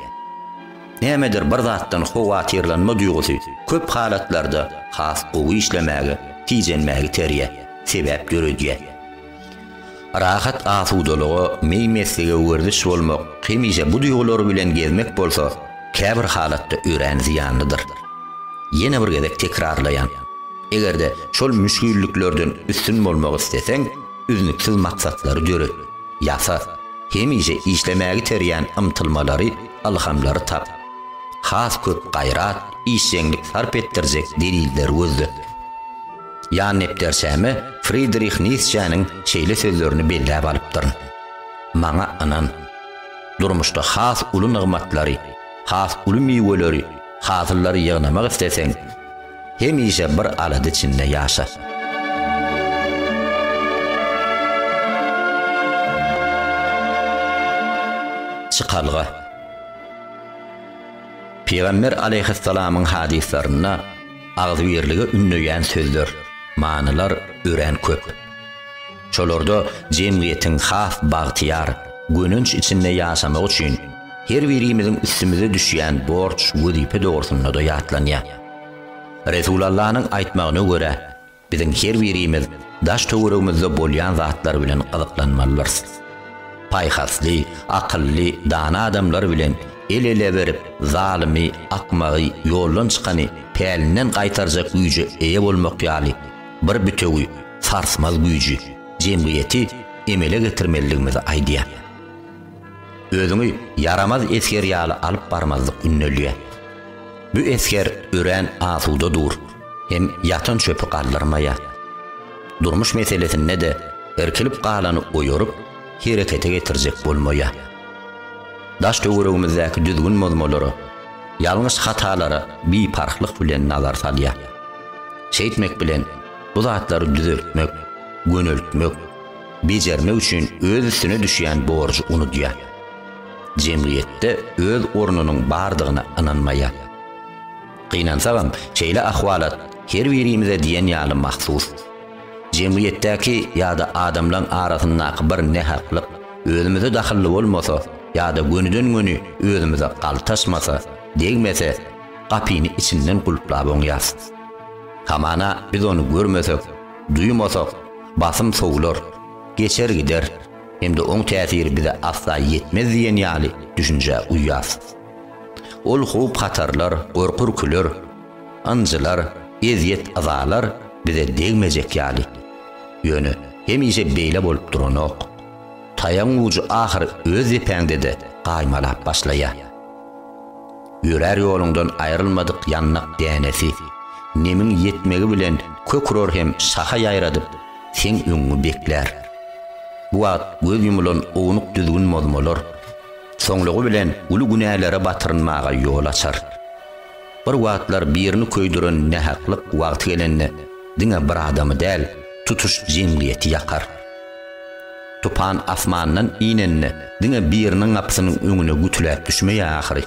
Nämedir bir zatdan howatyrlanma duýgusy köp halatlarda has gowy işlemäge, tijenmäge iterýär, sebäp döredýär. Rahat asudalyga, meý-meslige werziş bolmak, hemişe bu duýgular bilen gezmek bolsa, käbir halatda örän zyýanlydyr. Ýene bir gezek tekrarlaýan, eger-de şol müşgilliklerden üstün bolmak isleseň, üznüksiz maksatlary döret, ýasa, hemişe işlemäge iterýän ymtylmalary, ylhamlary tap. Has köp gaýrat, işjeňlik sarp etdirjek delilleri gözle. Ýan nepderçäme Fridrih Nisçäniň şeýle sözlerini belläp alypdyryn, Maňa ynan. Durmuşda has uly nygmatlary, has uly miweleri, hasyllary ýygnamak isleseň, hemişe bir alada içinde ýaşa. Çykalga. Pygamber alaýhyssalamyň hadyslarynda, agzybirlige ündeýän sözler, manylar örän köp. Şolarda jemgyýetiň has bagtyýar, gönenç içinde ýaşamagy üçin her birimiziň üstümize düşýän borç, wezipe dogrusynda-da ýatlanýar. Resulallanyň aýtmagyna görä, Biziň her birimiz daş-töweregimizde bolýan zatlar bilen gyzyklanmalydyrys. Paýhasly, akylly, dana adamlar bilen el-ele berip, zalymy, akmagy, ýoldan çykany pälinden gaýtarjak güýje eýe bolmak ýaly bir bitewi, sarsmaz güýji, jemgyýeti emele getirmelidigimizi aýdýar. Özüňi ýaramaz esger ýaly alyp barmazlyk ündelýä. Bu esger örän asuda dur, hem ýatan çöpi galdyrmaýa. Durmuş meselesinde-de irkilip galany oýaryp, herekete getirjek bolmaýa. Daş töweregimizdäki düzgün bozmalara, ýalňyş hatalara biparhlyk bilen nazar salýa. Şeýtmek bilen bu zatlary düzeltmek, göneltmek, bejermek üçin öz üstüne düşýän borjy unudýar. Jemgyýetde öz ornunyň bardygyna ynanmaýar. Gynansagam, şeýle ahwalat her birimize diýen ýaly mahsus. Jemgyýetdäki ýa-da adamlaň arasyndaky bir nähaklyk özümize dahylly bolmasa ýa-da gönüden-göni özümize galtaşmasa, degmese, gapyny içinden gulplap oňýarys. Hamana biz ony görmesek, Duýmasak, basym sowlar, geçer gider hem-de oň täsiri bize asla ýetmez diýen ýaly düşünjä uýýas. Ol howp-hatarlar, gorky-ürküler, ynjylar, ezýet-yzalar bize degmejek ýaly. Ýöne hemişe beýle bolup duranok. Taýagyň ujy ahyry öz depäňde-de gaýmalap başlaýar. Ýörär ýoluňdan aýrylmadyk ýandak dänesi, Nemiň ýetmegi bilen kök urar hem şaha ýaýradyp, seň öňüňi beklär. Bu wagt göz ýumylan ownuk düzgün bozmalar, soňlugy bilen uly günälere batyrynmaga ýol açar. Bir wagtlar birini köýdüren nähaklyk wagty gelende diňe bir adamy däl, tutuş jemgyýeti ýakar. Tupan asmandan inende diňe biriniň gapysynyň öňüne gütüläp düşmeýär ahyry.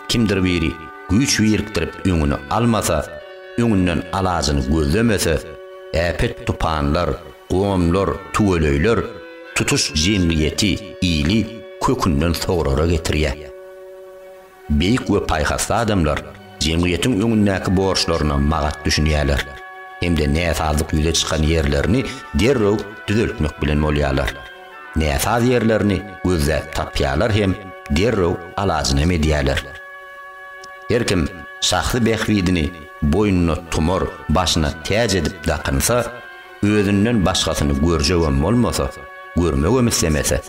Kimdir biri güýç birikdirip öňüni almasa, öňünden alajyny gözlemese, äpet tupanlar, gomlar, tüweleýler tutuş jemgyýeti, ili kökünden sograra getirýär. Beýik we paýhasly adamlar jemgyýetiň öňündäki borçlaryna magat düşünýärler hem-de näsazlyk ýüze çykan ýerlerini derrew düzeltmek bilen bolýarlar. Näsaz ýerlerini gözläp tapýarlar hem derrew alajynam edýärler. Her kim şahsy bähbidini boýnuna tumar, başyna täç edip dakynsa, özünden başgasyny görjegem bolmasa, görmegem islemese,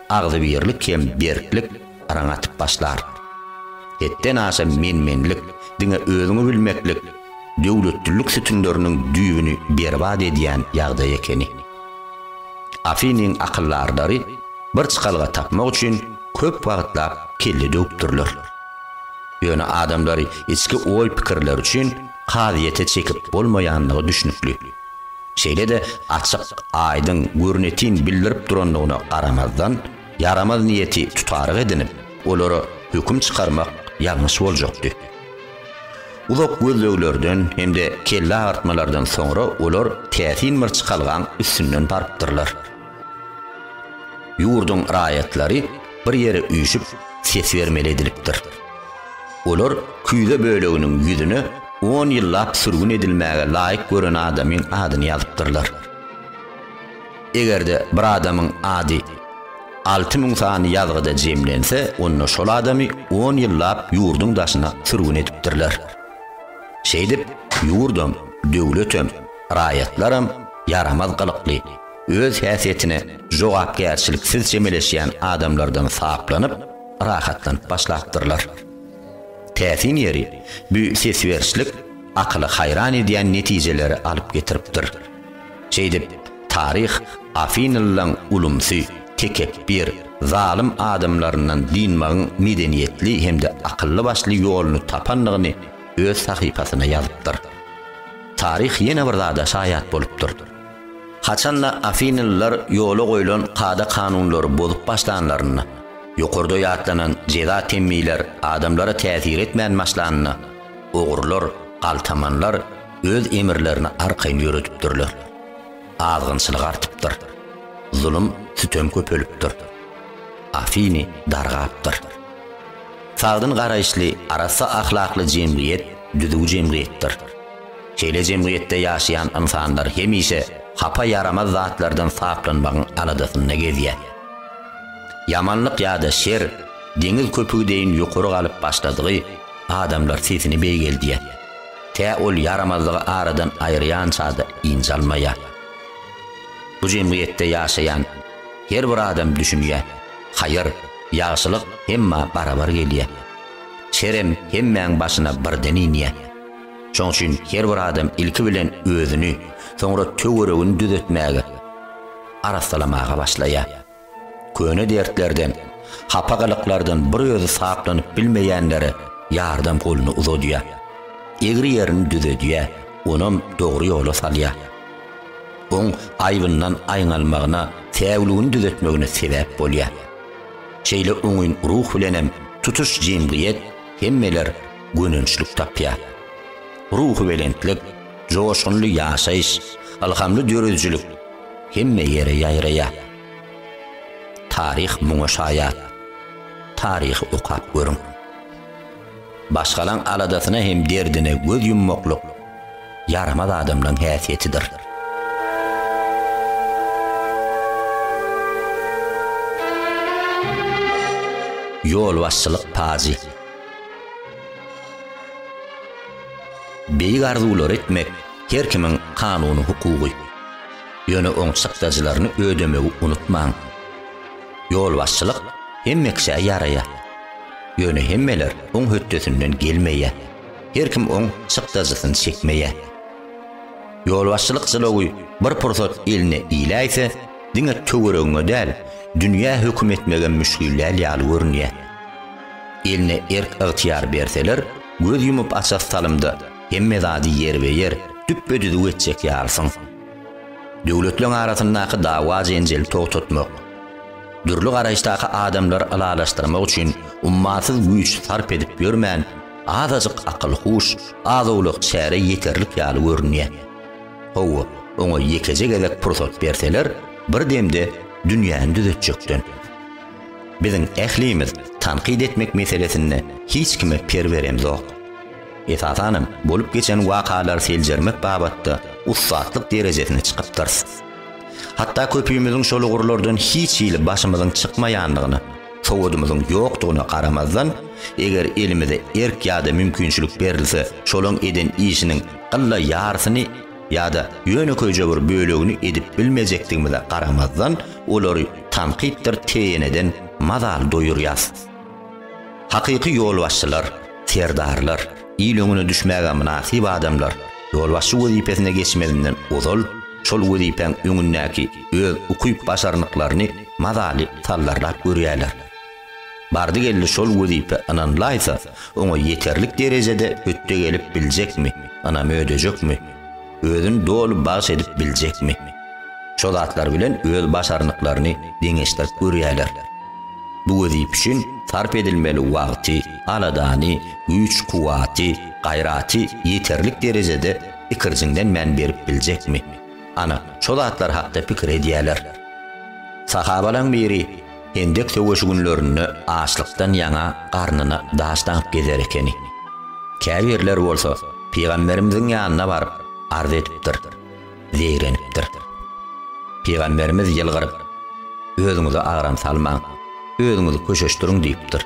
agzybirlik hem berklik araňa atyp başlar. Hetden aşa men-menlik, diňe özüňi bilmeklik döwletlilik sütünleriniň düýbüni berbat edýän ýagdaý ekeni. Afiniň akyldarlary bir çykalga tapmak üçin köp wagtlap kelle döwüpdirler. Ýöne adamlary içki oý-pikirleri üçin kazyýete çekip bolmaýandygy düşnükli. Şeýle-de açyk, aýdyň, görnetin bildirip durandygyna garamazdan, ýaramaz niýeti tutaryk edinip, olara höküm çykarmak ýalňyş boljakdy. Uzak gözleglerden hem-de kelle agyrtmalardan soňra olar täsin bir çykalgaň üstünden barypdyrlar. Ýurduň raýatlary bir ýere üýşüp, ses bermeli edilipdir. Olar küýze böleginiň ýüzüne on ýyllap sürgün edilmäge laýyk gören adamyň adyny ýazypdyrlar. Eger-de bir adamyň ady alty müň sany ýazgyda jemlense, onda şol adamy on ýyllap ýurduň daşyna sürgün edipdirler. Şeýdip, ýurdam, döwletem, raýatlaram ýaramaz gylykly, öz häsiýetine jogapkärçiliksiz çemeleşýän adamlardan saplanyp, rahatlanyp başlapdyrlar. Täsin ýeri, bu sesberişlik akyly haýran edýän netijelere alyp getiripdir. Şeýdip, taryh afinilylaryň ulumsy, tekepbir, zalym adamlaryndan dynmagyň medeniýetli hem-de akylly-başly ýoluny tapandygyny öz sahypasyna ýazypdyr. Taryh ýene bir zada şaýat bolupdyr. Haçan-da afinlylar ýola goýlan kada-kanunlary bozup başlanlarynda, ýokarda ýatlanan jeza temmiler adamlara täsir etmän başlanda, ogrular, galtamanlar öz emirlerini arkaýyn ýöredipdirler. Azgynçylyk artypdyr. Zulum, sütem köpelipdir. Afiny dargapdyr. Sagdyn garaýyşly, arassa ahlakly jemgyýet düzüw jemgyýetdir. Şeýle jemgyýetde ýaşaýan ynsanlar hemişe hapa ýaramaz zatlardan saplanmagyň aladasynda gezýär. Ýamanlyk ýa-da şer deňiz köpügi deýin ýokary galyp başladygy adamlar sesini beýgeldýär. Tä ol ýaramazlygy aradan aýyrýança-da ynjy almaýar. Bu jemgyýetde ýaşaýan her bir adam düşünýär, haýyr, ýagşylyk hemmä barabar gelýär. Şerem hemmäň başyna birden inýär. Şoň üçin her bir adam ilki bilen özüni, soňra töweregini düzetmäge, arassalamaga başlaýar. Köne dertlerden, hapagalyklardan bir özi saplanyp bilmeýänlere ýardam goluny uzadýar. Egri ýerini düzedýär, onam dogry ýola salýar. Oň aýbyndan aýňalmagyna, säwligini düzetmegine sebäp bolýar. Şeýle oňyn ruh bilenem tutuş jemgyýet, hemmeler, gönençlik tapýar. Ruhubelentlik, joşgunly ýaşaýyş, ylhamly döredijilik hemme ýere ýaýraýar. Taryh muňa şaýat. Taryhy okap görüň. Başgalaň aladasyna hem derdine göz ýummaklyk ýaramaz adamlaň häsiýetidir. Ýolbaşçylyk pajy. Beýik arzuwlary etmek her kimiň kanuny hukugy. Ýöne oň çykdajylaryny ödemegi unutmaň. Ýolbaşçylyk hemme kişä ýaraýar. Ýöne hemmeler oň hötdesinden gelmeýär. Her kim oň çykdajysyny çekmeýär. Ýolbaşçylyk jylawy bir pursat eline iläýse, diňe töweregiňe däl, dünýä höküm etmegem müşgillär ýaly görünýär. Eline erk-ygtyýar berseler, göz ýumup-açasy salymda hemme zady ýerbe-ýer, düpbe-düzüw etjek ýalysyň. Döwletleň arasyndaky dawa-jenjeli togtatmak, dürli garaýyşdaky adamlary ylalaşdyrmak üçin ummasyz güýç sarp edip ýörmän, azajyk akyl-huş, az-owlak çäre ýeterlik ýaly görünýär. Hawa, oňa ýekeje gezek pursat berseler, bir demde dünýäni düzetjekden. Biziň ählimiz tankyt etmek meselesinde hiç kime per beremzok. Esasanam bolup geçen wakalary seljermek babatda ussatlyk derejesine çykypdyrys. Hatda köpimiziň şol ugurlardan hiç hili başymyzyň çykmaýandygyna, sowadymyzyň ýokdugyna garamazdan, eger elimize erk ýa-da mümkinçilik berilse, şolaň eden işiniň ylla ýarysyny ýa-da ýönekeýje bir bölegini edip bilmejekdigimize garamazdan, olary tankytdyr teýeneden mazaly doýurýas. Hakyky ýolbaşçylar, serdarlar, il öňüne düşmäge mynasyp adamlar, ýolbaşçy wezipesine geçmezinden ozal, şol wezipäň öňündäki öz ukyp-başarnyklaryny mazaly sallarlap görýärler. Bardy-geldi şol wezipe ynanlaýsa, oňa ýeterlik derejede hötde gelip biljekmi, ynam ödejekmi, özüni doly bagyş edip biljekmi? Şo zatlar bilen öz başarnyklaryny deňeşdirip görýärler. Bu wezipe üçin sarp edilmeli wagty, aladany, güýç-kuwwaty, gaýraty ýeterlik derejede ikirjiňlenmän berip biljekmi? Ana, şo zatlar hakda pikir edýärler. Sahabalaň biri. Hendek söweşi günlerinde açlykdan ýaňa garnyna daş daňyp gezer ekeni. Käbirler bolsa pygamberimiziň ýanyna baryp, arz edipdir, zeýrenipdir. Pygamberimiz ýylgyryp, Özüňize agram salmaň, özüňizi köşeşdiriň diýipdir.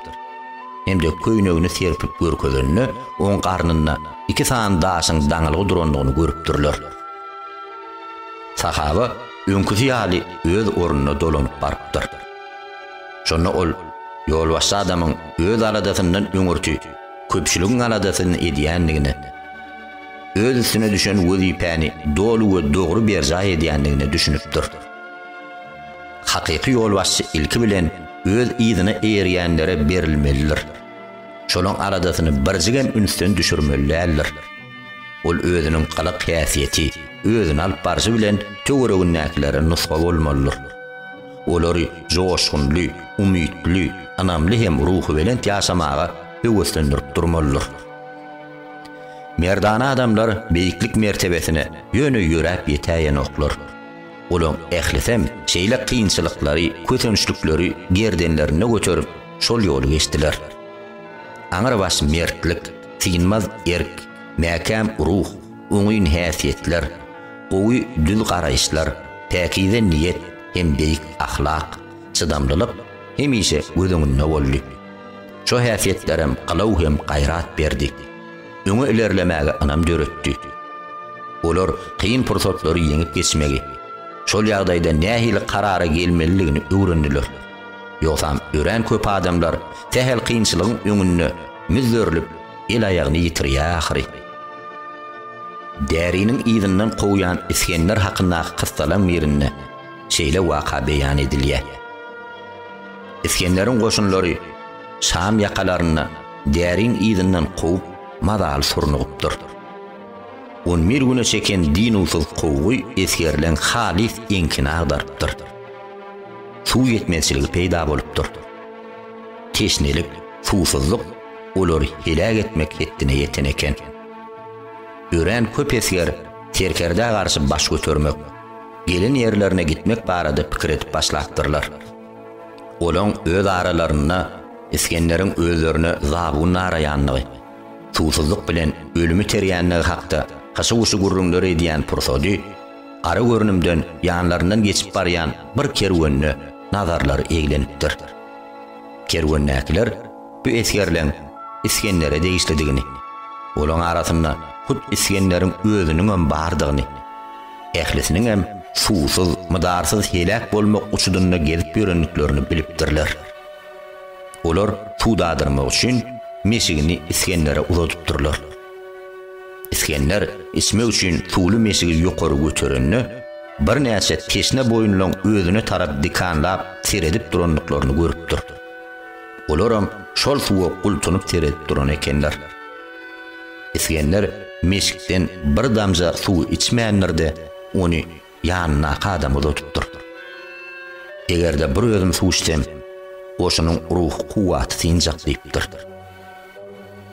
Hendek köýnegini serpip görkezende, oň garnynda iki sany daşyň daňylgy durandygyny görüpdirler. Sahaba öňküsi ýaly öz ornuna dolanyp barypdyr. Şonda ol ýolbaşçy adamyň öz aladasyndan öňürti köpçüligiň aladasyny edýändigine, öz üstüne düşen wezipäni doly we dogry berjaý edýändigine düşünipdir. Hakyky ýolbaşçy ilki bilen öz yzyna eýerýänlere berilmelidir. Şolaň aladasyny birjigem ünsden düşürmeli däldir. Ol özüniň galak häsiýeti, özüni alyp barşy bilen töweregindäkilere nusga bolmalydyr. Olary joşgunly, umytly, ynamly hem ruhubelent ýaşamaga höweslendirip durmalydyr. Merdana adamlar beýiklik mertebesine ýöne ýöräp ýetäýenoklar. Olaň ählisem şeýle kynçylyklary, kösençlikleri gerdenlerinde göterip, şol ýoly geçdiler. Aňrybaş mertlik, Synmaz erk, mäkäm ruh, oňyn häsiýetler, gowy düz garaýyşlar, päkize niýet hem beýik ahlak, çydamlylyk hemişe göz öňünde boldy. Şo häsiýetlerem gylaw hem gaýrat berdi. Öňe ilerlemäge ynam döretdi. Olar kyn pursatlary ýeňip geçmegi, şol ýagdaýda nähili karara gelmelidigini öwrendiler. Ýogsam örän köp adamlar sähel kynçylygyň öňünde müzzerlip, el-aýagyny ýitirýär ahyry. Däriniň yzyndan kowýan Isgender hakyndaky kyssalaň birinde şeýle waka beýan edilýär. Isgenderiň goşunlary Şam ýakalarynda Däriň yzyndan kowup, mazaly surnugypdyr. On bir güne çeken dynuwsyz kowgy esgerleň halys eňkini agdarypdyr. suw ýetmezçiligi peýda bolupdyr. Teşnelik, suwsuzlyk olary heläk etmek hetdine ýeten eken. Örän köp esger serkerdä garşy baş götermek, gelen ýerlerine gitmek barada pikir edip başlapdyrlar. Olaň öz aralarynda Isgenderiň özlerine zabun naraýanlygy, suwsuzlyk bilen ölümi terýänligi hakda hyşy-wyşy gürrüňler edýän pursady, gara görnümden ýanlaryndan geçip barýan bir kerwenine nazarlary eglenipdir. Kerwendäkiler bu esgerleň Isgendere degişlidigini, olaň arasynda hut Isgenderiň özüniňem bardygyny, ählisiniňem suwsuz, mydarsyz heläk bolmak uçudynda gezip ýörendiklerini bilipdirler. Olar suw dadyrmak üçin meşigini Isgendere uzadypdyrlar. Isgender içmek üçin suwly meşigi ýokary göterende, birnäçe teşne boýunlaryň özüne tarap dikanlap seredip durandyklaryny görüpdir. Olaram şol suwa gultunyp seredip duran ekenler. Isgender meşikden bir damja suwy içmändir-de, ony ýanyndaky adama uzadypdyr. Eger-de bir özüm suw içsem, goşunyň ruhy kuwwaty synjak diýipdir.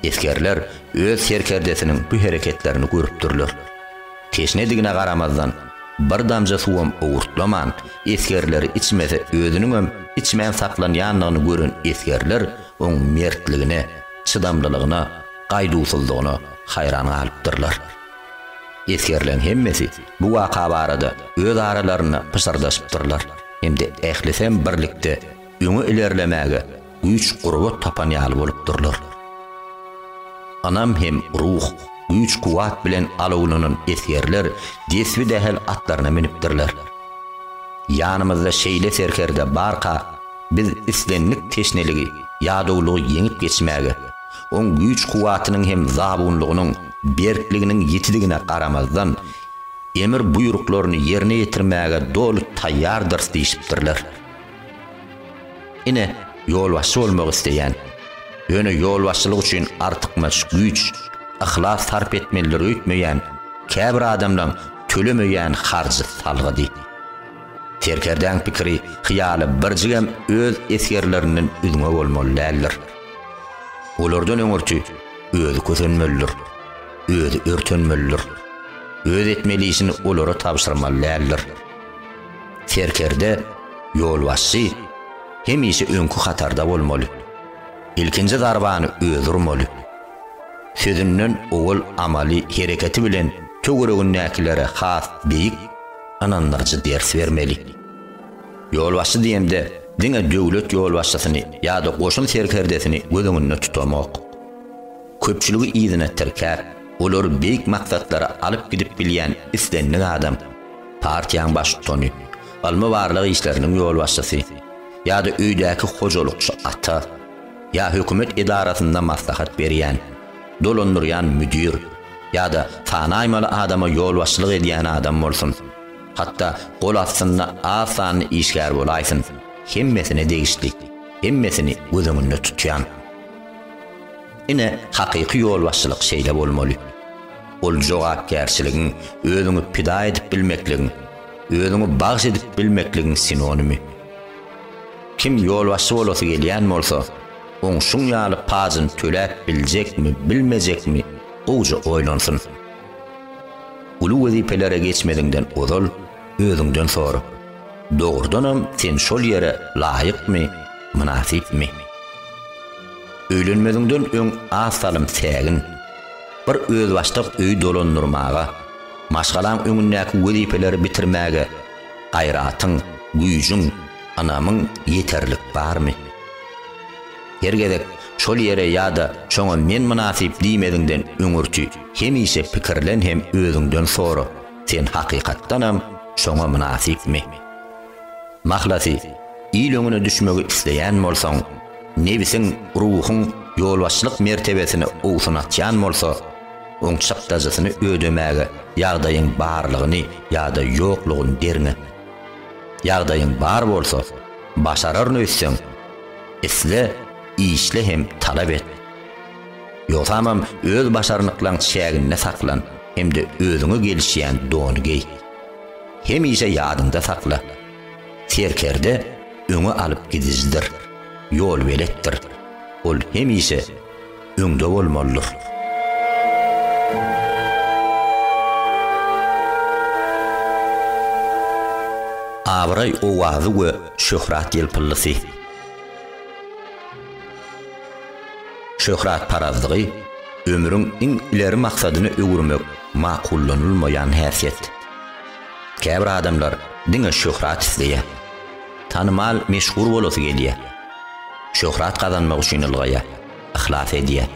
Esgerler öz serkerdesiniň bu hereketlerini görüpdirler. Teşnedigine garamazdan, bir damja suwam owurtlaman, esgerleri içmese özüniňem içmän saklanýandygyny gören esgerler oň mertligine, çydamlylygyna, gaýduwsyzlygyna haýran galypdyrlar. Esgerleriň hemmesi bu waka barada öz aralarynda pyşyrdaşypdyrlar hem-de ählisem birlikde öňe ilerlemäge güýç-gurbat tapan ýaly bolupdyrlar. Ynam hem ruh, güýç-kuwwat bilen alawlanan esgerler desbi-dähel atlaryna münüpdirler. Ýanymyzda şeýle serkerde barka, biz islendik teşneligi, ýadawlygy ýeňip geçmäge, Oň güýç-kuwwatynyň hem zabunlygynyň berkliginiň ýetidigine garamazdan, emir-buýruklaryny ýerine ýetirmäge doly taýýardyrys diýşipdirler. Ine, ýolbaşçy bolmak isleýän, ýöne ýolbaşçylyk üçin artykmaç güýç, yhlas sarp etmelidir öýtmeýän käbir adamlaň tölemeýän harjy salgydy. Serkerdäň pikiri, hyýaly birjigem öz esgerlerinden üzňe bolmaly däldir. Olardan öňürti özi kösenmelidir, özi örtenmelidir, öz etmeli işini olara tabşyrmaly däldir. Serkerde, ýolbaşçy hemişe öňki hatarda bolmaly. Ilkinji zarbany özi urmaly. Sözünden owal amaly hereketi bilen töweregindäkilere has beýik, ynandyryjy ders bermeli. Ýolbaşçy diýemde, diňe döwlet ýolbaşçysyny ýa-da goşun serkerdesini göz öňünde tutamok. Köpçüligi yzyna tirkäp, olary beýik maksatlara alyp gidip bilýän islendik adam, partiýaň baştutany, ylmy-barlag işleriniň ýolbaşçysy ýa-da öýdäki hojalykçy ata ýa hökümet edarasynda maslahat berýän, dolandyrýan müdir ýa-da sanaýmaly adama ýolbaşçylyk edýän adam bolsun. Hatda gol astynda az sanly işgär bolaýsyn, hemmesine degişli, hemmesini göz öňünde tutýan. Ine, hakyky ýolbaşçylyk şeýle bolmaly. Ol jogapkärçiligiň, özüňi pida edip bilmekligiň, özüňi bagyş edip bilmekligiň sinonimi. Kim ýolbaşçy bolasy gelýän bolsa, oň şuň ýaly pajyny töläp biljekmi, bilmejekmi, gowja oýlansyn. Uly wezipelere geçmeziňden ozal özüňden sora, dogrudanam sen şol ýere laýykmy, mynasypmy? Öýlenmeziňden öň az salym sägin, bir özbaşdak öýi dolandyrmaga, maşgalaň öňündäki wezipeleri bitirmäge gaýratyň, güýjüň, ynamyň ýeterlik barmy? Her gezek şol ýere ýa-da şoňa men mynasyp diýmeziňden öňürti hemişe pikirlen hem özüňden sora, sen hakykatdanam şoňa mynasypmy? Mahlasy, il öňüne düşmegi isleýän bolsaň, nebsiň, ruhuň ýolbaşçylyk mertebesini owsunatýan bolsa, oň çykdajysyny ödemäge ýagdaýyň barlygyny ýa-da ýoklugyny derňe. Ýagdaýyň bar bolsa, başararyn öýtseň, Isle, işle hem talap et. Ýogsamam öz başarnyklaň çäginde saklan hem-de özüňe gelişýän dony geý. Hemişe ýadyňda sakla, serkerde öňe alyp gidijidir, ýolbeletdir. Ol hemişe öňde bolmalydyr. Abraý owazy we şöhrat ýelpyllysy. Şöhratparazlygy ömrüň iň ileri maksadyna öwürmek makullanylmaýan häsiýet. Käbir adamlar diňe şöhrat isleýär. Tanymal, meşhur bolasy gelýär. Şöhrat gazanmak üçin ylgaýar. yhlas edýär.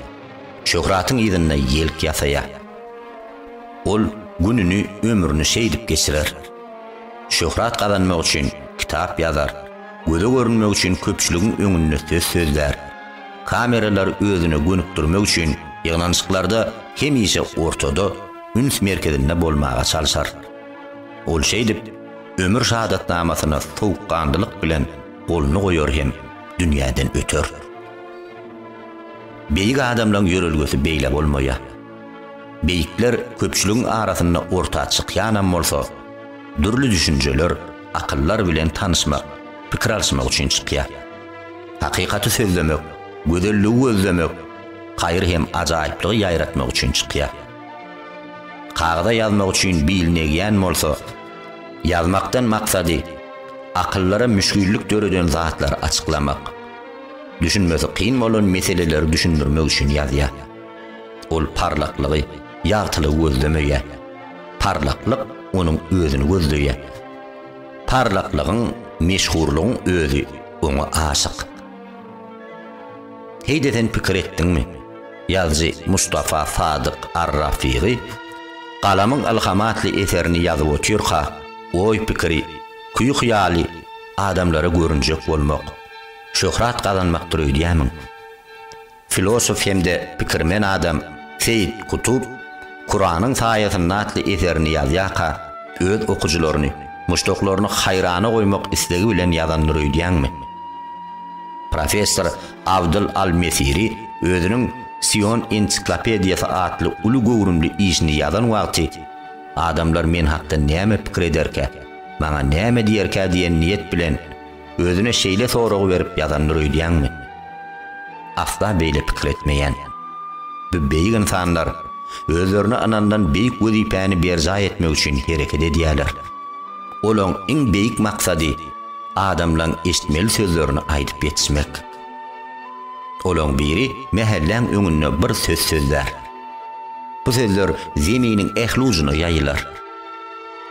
Şöhratyň yzynda ýelk ýasaýar. Ol gününi, ömrüni şeýdip geçirer. Şöhrat gazanmak üçin kitap ýazar, göze görünmek üçin köpçüligiň öňünde söz sözlär. Kameralary özüne gönükdirmek üçin ýygnanyşyklarda hemişe ortada, üns merkezinde bolmaga çalşar. Ol şeýdip, ömür şadatnamasyna sowukganlylyk bilen goluny goýar hem dünýäden öter. Beýik adamlaryň ýörelgesi beýle bolmaýar. Beýikler köpçüligiň arasynda orta çykýanam bolsa, dürli düşünjeler, akyllar bilen tanyşmak, pikir alyşmak üçin çykýar. Hakykaty sözlemek, gözelligi gözlemek, haýyr hem ajaýyplygy ýaýratmak üçin çykýar. Kagyza ýazmak üçin bil negýän bolsa, ýazmakdan maksady, akyllara müşgillik döreden zatlary açyklamak. Düşünmesi kyn bolan meseleleri düşündirmek üçin ýazýar. Ol parlaklygy, ýagtylygy gözlemeýär. Parlaklyk onuň özüni gözleýär. Parlaklygyň, meşhurlygyň özi oňa aşyk. Heý-de sen pikir etdiňmi? Ýazyjy Mustafa Sadyk ar-Rafygy Galamyň ylhamy atly eserini ýazyp otyrka, oý-pikiri, küýi-hyýaly adamlara görünjek bolmak, Şöhrat gazanmakdyr öýdýämiň? Filosof hem-de pikirmen adam Seýit Kutub Kuranyň saýasynda atly eserini ýazýarka öz okyjylaryny, muşdaklaryny haýrana goýmak islegi bilen ýazandyr öýdýäňmi? Professor Abdyl al-Mesiri özüniň Sion ensiklopediýasy atly uly göwrümli işini ýazan wagty Adamlar men hakda näme pikir ederkä, maňa näme diýerkä diýen niýet bilen özüne şeýle soragy berip ýazandyr öýdýäňmi? Asla beýle pikir etmeýän. Bu beýik ynsanlar özlerine ynanylan beýik wezipäni berjaý etmek üçin hereket edýärler. Olaň iň beýik maksady adamlaň eşitmeli sözlerini aýdyp ýetişmek. Olaň biri mähelläň öňünde bir söz sözlär. Bu sözler zeminiň ähli ujuna ýaýylar.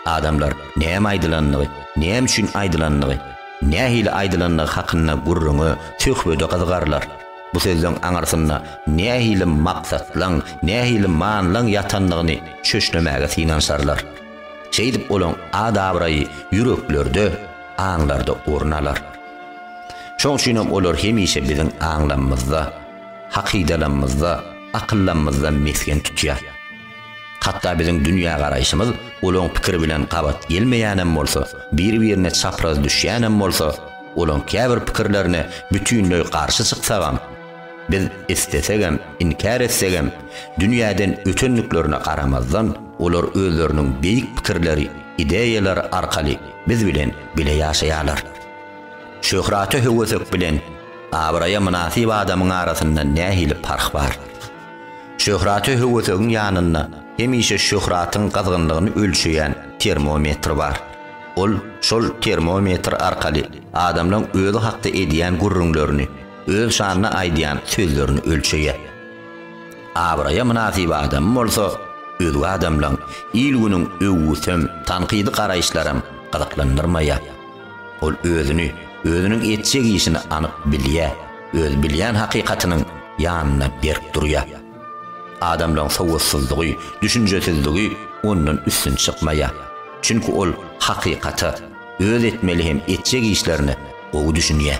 Adamlar näme aýdylandygy, näme üçin aýdylandygy, nähili aýdylandygy hakynda gürrüňe, söhbede gyzygarlar. Bu sözleň aňyrsynda nähili maksatlaň, nähili manylaň ýatandygyny çöşlemäge synanyşarlar. Şeýdip olaň at-abraýy ýüreklerde, aňlarda orun alar. Şoň üçinem olar hemişe biziň aňlamymyzda, hakydalamymyzda, akyllamymyzda mesgen tutýar. Hatda biziň dünýägaraýşymyz olaň pikiri bilen gabat gelmeýänem bolsa, bir-birine çapraz düşýänem bolsa, olaň käbir pikirlerine bütinleý garşy çyksagam, biz islesegem, inkär etsegem, dünýäden ötendiklerine garamazdan, olar özleriniň beýik pikirleri, ideýalary arkaly biz bilen bile ýaşaýarlar. Şöhrata höwesek bilen abraýa mynasyp adamyň arasynda nähili parh bar? Şöhrata höwesegiň ýanynda hemişe şöhratyň gyzgynlygyny ölçeýän termometr bar. Ol şol termometr arkaly adamlaň özi hakda edýän gürrüňlerini, öz şanyna aýdýan sözlerini ölçeýär. Abraýa mynasyp adamy bolsa özge adamlaň, il-günüň öwgüsem, tankydy garaýyşlaram gyzyklandyrmaýar. Ol özüni, özüniň etjek işini anyk bilýär, öz bilýän hakykatynyň ýanyna berk durýar. Adamlaryň sowatsyzlygy, düşünjesizligi ondan üstün çykmaýar. Çünki ol hakykata, öz etmeli hem etjek işlerine gowy düşünýär.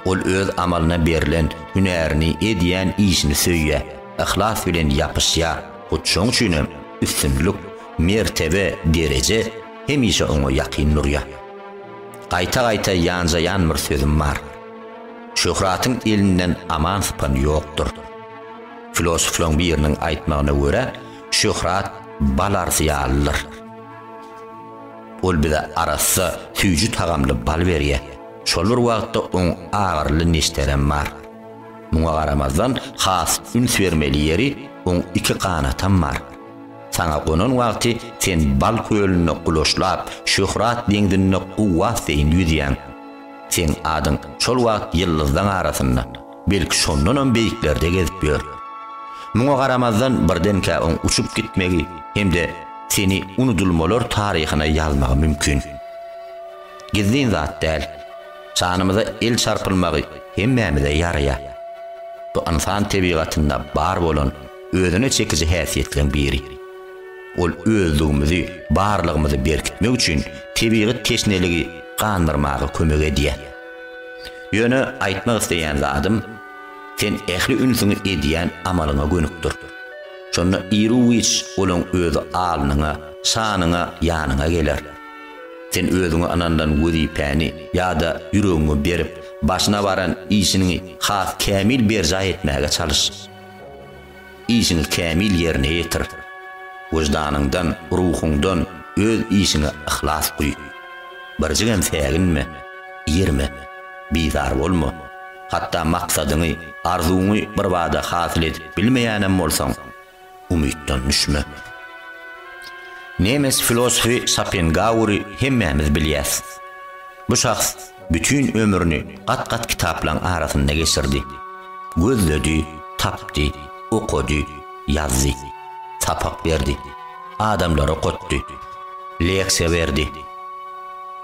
Ol öz amalyna berlen, hünärini, edýän işini söýýär, yhlas bilen ýapyşýar. Hut şoň üçin hem üstünlik, mertebe, dereje Hemişe oňa ýakyn durýar. Gaýta-gaýta ýanjaýan bir sözüm bar. Şöhratyň elinden aman sypan ýokdur. Filosoflaryň biriniň aýtmagyna görä, şöhrat bal arsy ýalydyr. Ol bize arassa, süýji tagamly bal berýär. Şol bir wagtda oň agyryly neşterem bar. Muňa garamazdan, has üns bermeli ýeri, oň iki ganatam bar. Saňa gonan wagty sen bal kölünde gulaşlap, şöhrat deňzinde guwwat deýin ýüzýäň. Seň adyň şol wagt ýyldyzlaň arasynda, belki şondanam beýiklerde gezip ýör. Muňa garamazdan birdenkä oň uçup gitmegi hem-de seni unudylmalar taryhyna ýazmagy mümkin. Gizlin zat däl. Şanymyza el çarpylmagy hemmämize ýaraýar. Bu ynsan tebigatynda bar bolan özüne çekiji häsiýetleriň biri. Ol özlügimizi, barlygymyzy berkitmek üçin tebigy teşneligi gandyrmaga kömek edýär. Ýöne aýtmak isleýän zadym, sen ähli ünsüňi edýän amalyňa gönükdir. Şonda iru-giç olaň özi alnyňa, şanyňa, ýanyňa geler. Sen özüňe ynanylan wezipäni ýa-da ýüregiňi berip, başyna baran işiniňi has kämil berjaý etmäge çalyş. Işiňi kämil ýerine ýetir. Wyždanyňdan, ruhuňdan öz işiňe yhlas guý. Birjigem säginme, irme, bizar bolma. Hatda maksadyňy, arzuwyňy birbada hasyl edip bilmeýänem bolsaň, umytdan düşme. Nemes filosofy Şopengauri hemmämiz bilýäs. Bu şahs Bütin ömrüni gat-gat kitaplaryň arasynda geçirdi. Gözledi, tapdy, okady, ýazdy. Sapak berdi. Adamlary okatdy. Leksiýa berdi.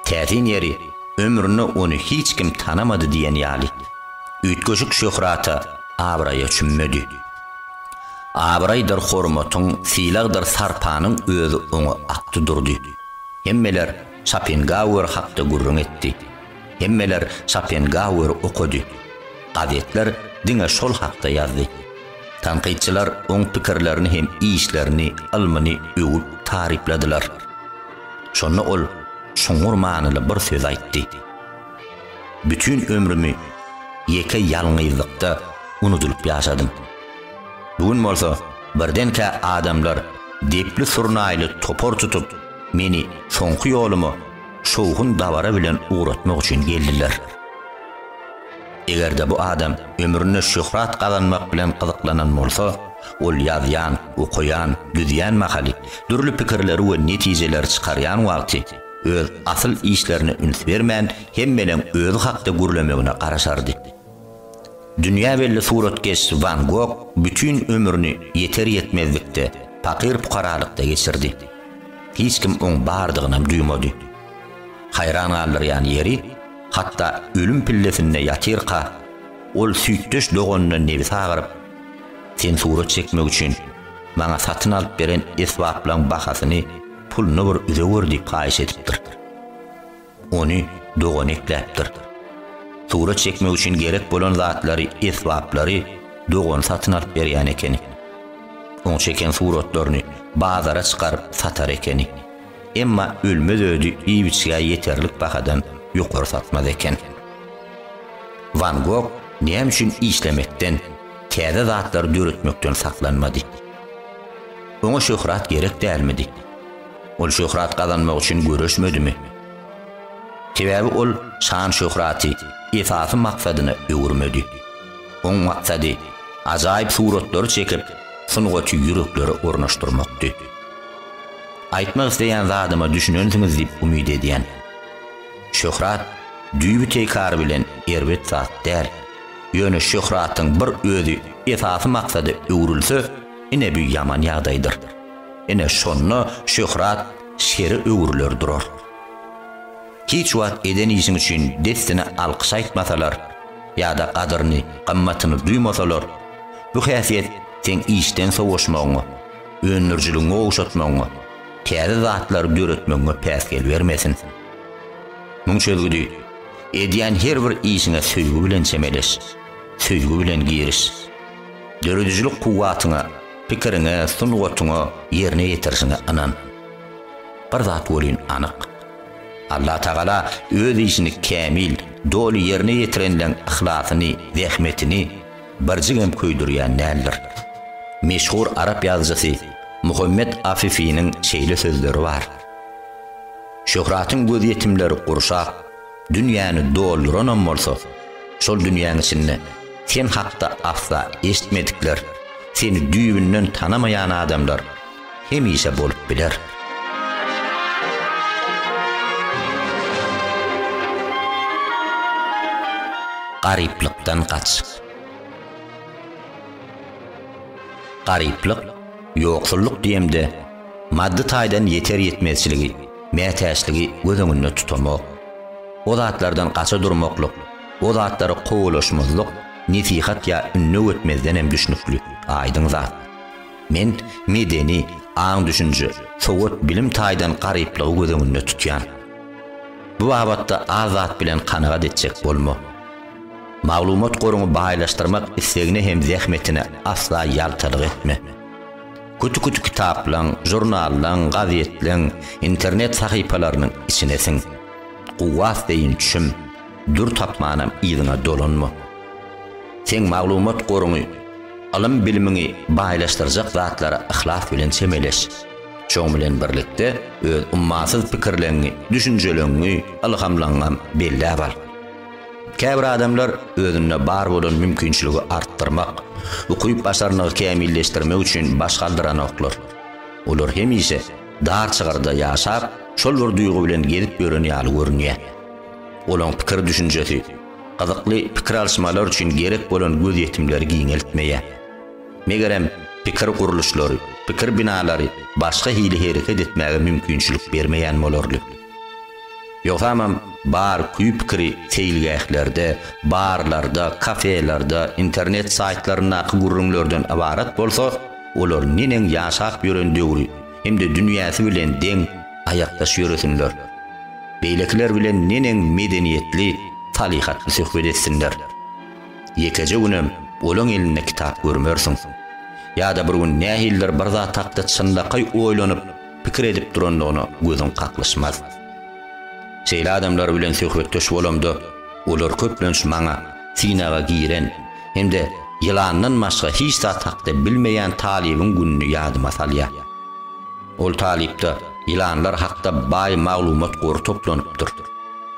Täsin ýeri, ömründe ony hiç kim tanamady diýen ýaly. Üýtgeşik şöhrata, abraýa çümmedi. Abraýdyr hormatyň, sylagdyr sarpanyň özi oňa akdy durdy. Hemmeler. Şopenhauer hakda gürrüň etdi. Hemmeler Şopenhauer okady. Gazetler diňe şol hakda ýazdy. Tankytçylar oň pikirlerini hem işlerini, ylmyny öwüp tarypladylar. Şonda ol çuňňur manyly bir söz aýtdy. Bütin ömrümi ýeke ýalňyzlykda unudylyp ýaşadym. Bu gün bolsa birdenkä adamlar depli surnaýly topar tutup, Meni soňky ýoluma şowhun dabara bilen ugratmak üçin geldiler. Eger-de bu adam ömründe şöhrat gazanmak bilen gyzyklanan bolsa, ol ýazýan, okaýan, düzýän mahaly, dürli pikirleri we netijeleri çykarýan wagty öz asyl işlerine üns bermän, hemmeneň özi hakda gürlemegine garaşardy. Dünýä belli suratkeş Wan Gog bütin ömrüni ýeter-ýetmezlikde, pakyr-pukaralykda geçirdi. Hiç kim oň bardygynam duýmady. Haýran galdyrýan ýeri, hatda ölüm pillesinde ýatyrka, ol süýtdeş doganyna nebsi agyryp, Sen surat çekmek üçin maňa satyn alyp beren esbaplaň bahasyny, puluny bir üzewür diýip haýyş edipdir. Ony dogan ekläpdir. Surat çekmek üçin gerek bolan zatlary, esbaplary dogany satyn alyp berýän ekeni. Oň çeken suratlaryny bazara çykaryp satar ekeni. Emma ölmez ödi iýip-içgä ýeterlik bahadan ýokary satmaz eken. Wan Gog näme üçin işlemekden, täze zatlary döretmekden saklanmady? Oňa şöhrat gerek dälmidi? Ol şöhrat gazanmak üçin göreşmedimi? Sebäbi ol şan-şöhraty esasy maksadyna öwürmedi. Oň maksady ajaýyp suratlary çekip, sungaty ýüreklere ornaşdyrmakdy. Aýtmak isleýän zadyma düşünensiňiz diýip umyt edýän. Şöhrat düýbi teýkary bilen erbet zat däl. Ýöne şöhratyň bir özi esasy maksada öwrülse, ine bu ýaman ýagdaýdyr. Ine, şonda şöhrat şere öwrüler durar. Hiç wagt eden işiň üçin dessine alkyş aýtmasalar ýa-da gadyryny, gymmatyny duýmasalar, bu häsiýet seň işden sowaşmagyňa, öndürijiligiňi gowşatmagyňa, täze zatlary döretmegiňe päsgel bermesin. Muň çözgüdi, edýän her bir işiňe söýgi bilen çemeleş, söýgi bilen giriş. Döredijilik kuwwatyňa, pikiriňe, sungatyňa, ýerine ýetirişiňe ynan. Bir zat welin anyk. Allatagala öz işini kämil, doly ýerine ýetirenleň yhlasyny, zähmetini birjigem köýdürýän däldir. Meşhur arap ýazyjysy Muhammet Afifiniň şeýle sözleri bar, Şöhratyň gözýetimleri gurşap, Dünýäni dolduranam bolsa, şol dünýäň içinde sen hakda asla eşitmedikler, seni düýbünden tanamaýan adamlar hemişe bolup biler. Garyplykdan gaç. Garyplyk, Ýoksullyk diýemde, maddy taýdan ýeter-ýetmezçiligi, mätäçligi göz öňünde tutamok. O zatlardan gaça durmaklyk, o zatlary kowalaşmazlyk nesihat ýa ündew etmezden hem düşnükli, aýdyň zat. Men medeni, aň-düşünje, sowat-bilim taýdan garyplygy göz öňünde tutýan. Bu babatda az zat bilen kanagat etjek bolma. Maglumat goruňy baýlaşdyrmak islegine hem zähmetine asla ýaltalyk etme. Küti-küti kitaplaň, žurnallaň, gazetleň, internet sahypalarynyň içine siň. Kuwwat deýin çüm, dür tapmanam yzyňa dolanma. Seň maglumat goruňy, ylym-bilimiňi baýlaşdyrjak zatlara yhlas bilen çemeleş. Şoň bilen birlikde öz ummasyz pikirleňňi, düşünjeleňňi, ylhamlaňňam belläp al. Käbir adamlar özünde bar bolan mümkinçiligi artdyrmak, ukyp-başarnygy kämilleşdirmek üçin baş galdyranoklar. Olar hemişe dar çygrda ýaşap, şol bir duýgy bilen gezip ýören ýaly görünýär. Olaň pikir-düşünjesi, gyzykly pikir alyşmalar üçin gerek bolan gözýetimleri giňeltmeýär. Megerem, pikir gurluşlary, pikir binalary başga hili hereket etmäge mümkinçilik bermeýän bolarly. Ýogsamam, bar küý-pikiri seýilgählerde, barlarda, kafelerde, internet saýtlaryndaky gürrüňlerden ybarat bolsa, olar neneň ýaşap ýören döwri hem-de dünýäsi bilen deň aýakdaş ýöresinler? Beýlekiler bilen neneň medeniýetli, salyhatly söhbet etsinler? Ýekeje günem olaň elinde kitap görmersiň. Ýa-da bir gün nähilidir bir zat hakda çynlakaý oýlanyp, pikir edip durandygyna gözüň kaklyşmaz. Şeýle adamlar bilen söhbetdeş bolamda, olar köplenç maňa synaga giren hem-de ýylandan başga hiç zat hakda bilmeýän talybyň gününi ýadyma salýar. Ol talypda ýylanlar hakda baý maglumat gory toplanypdyr.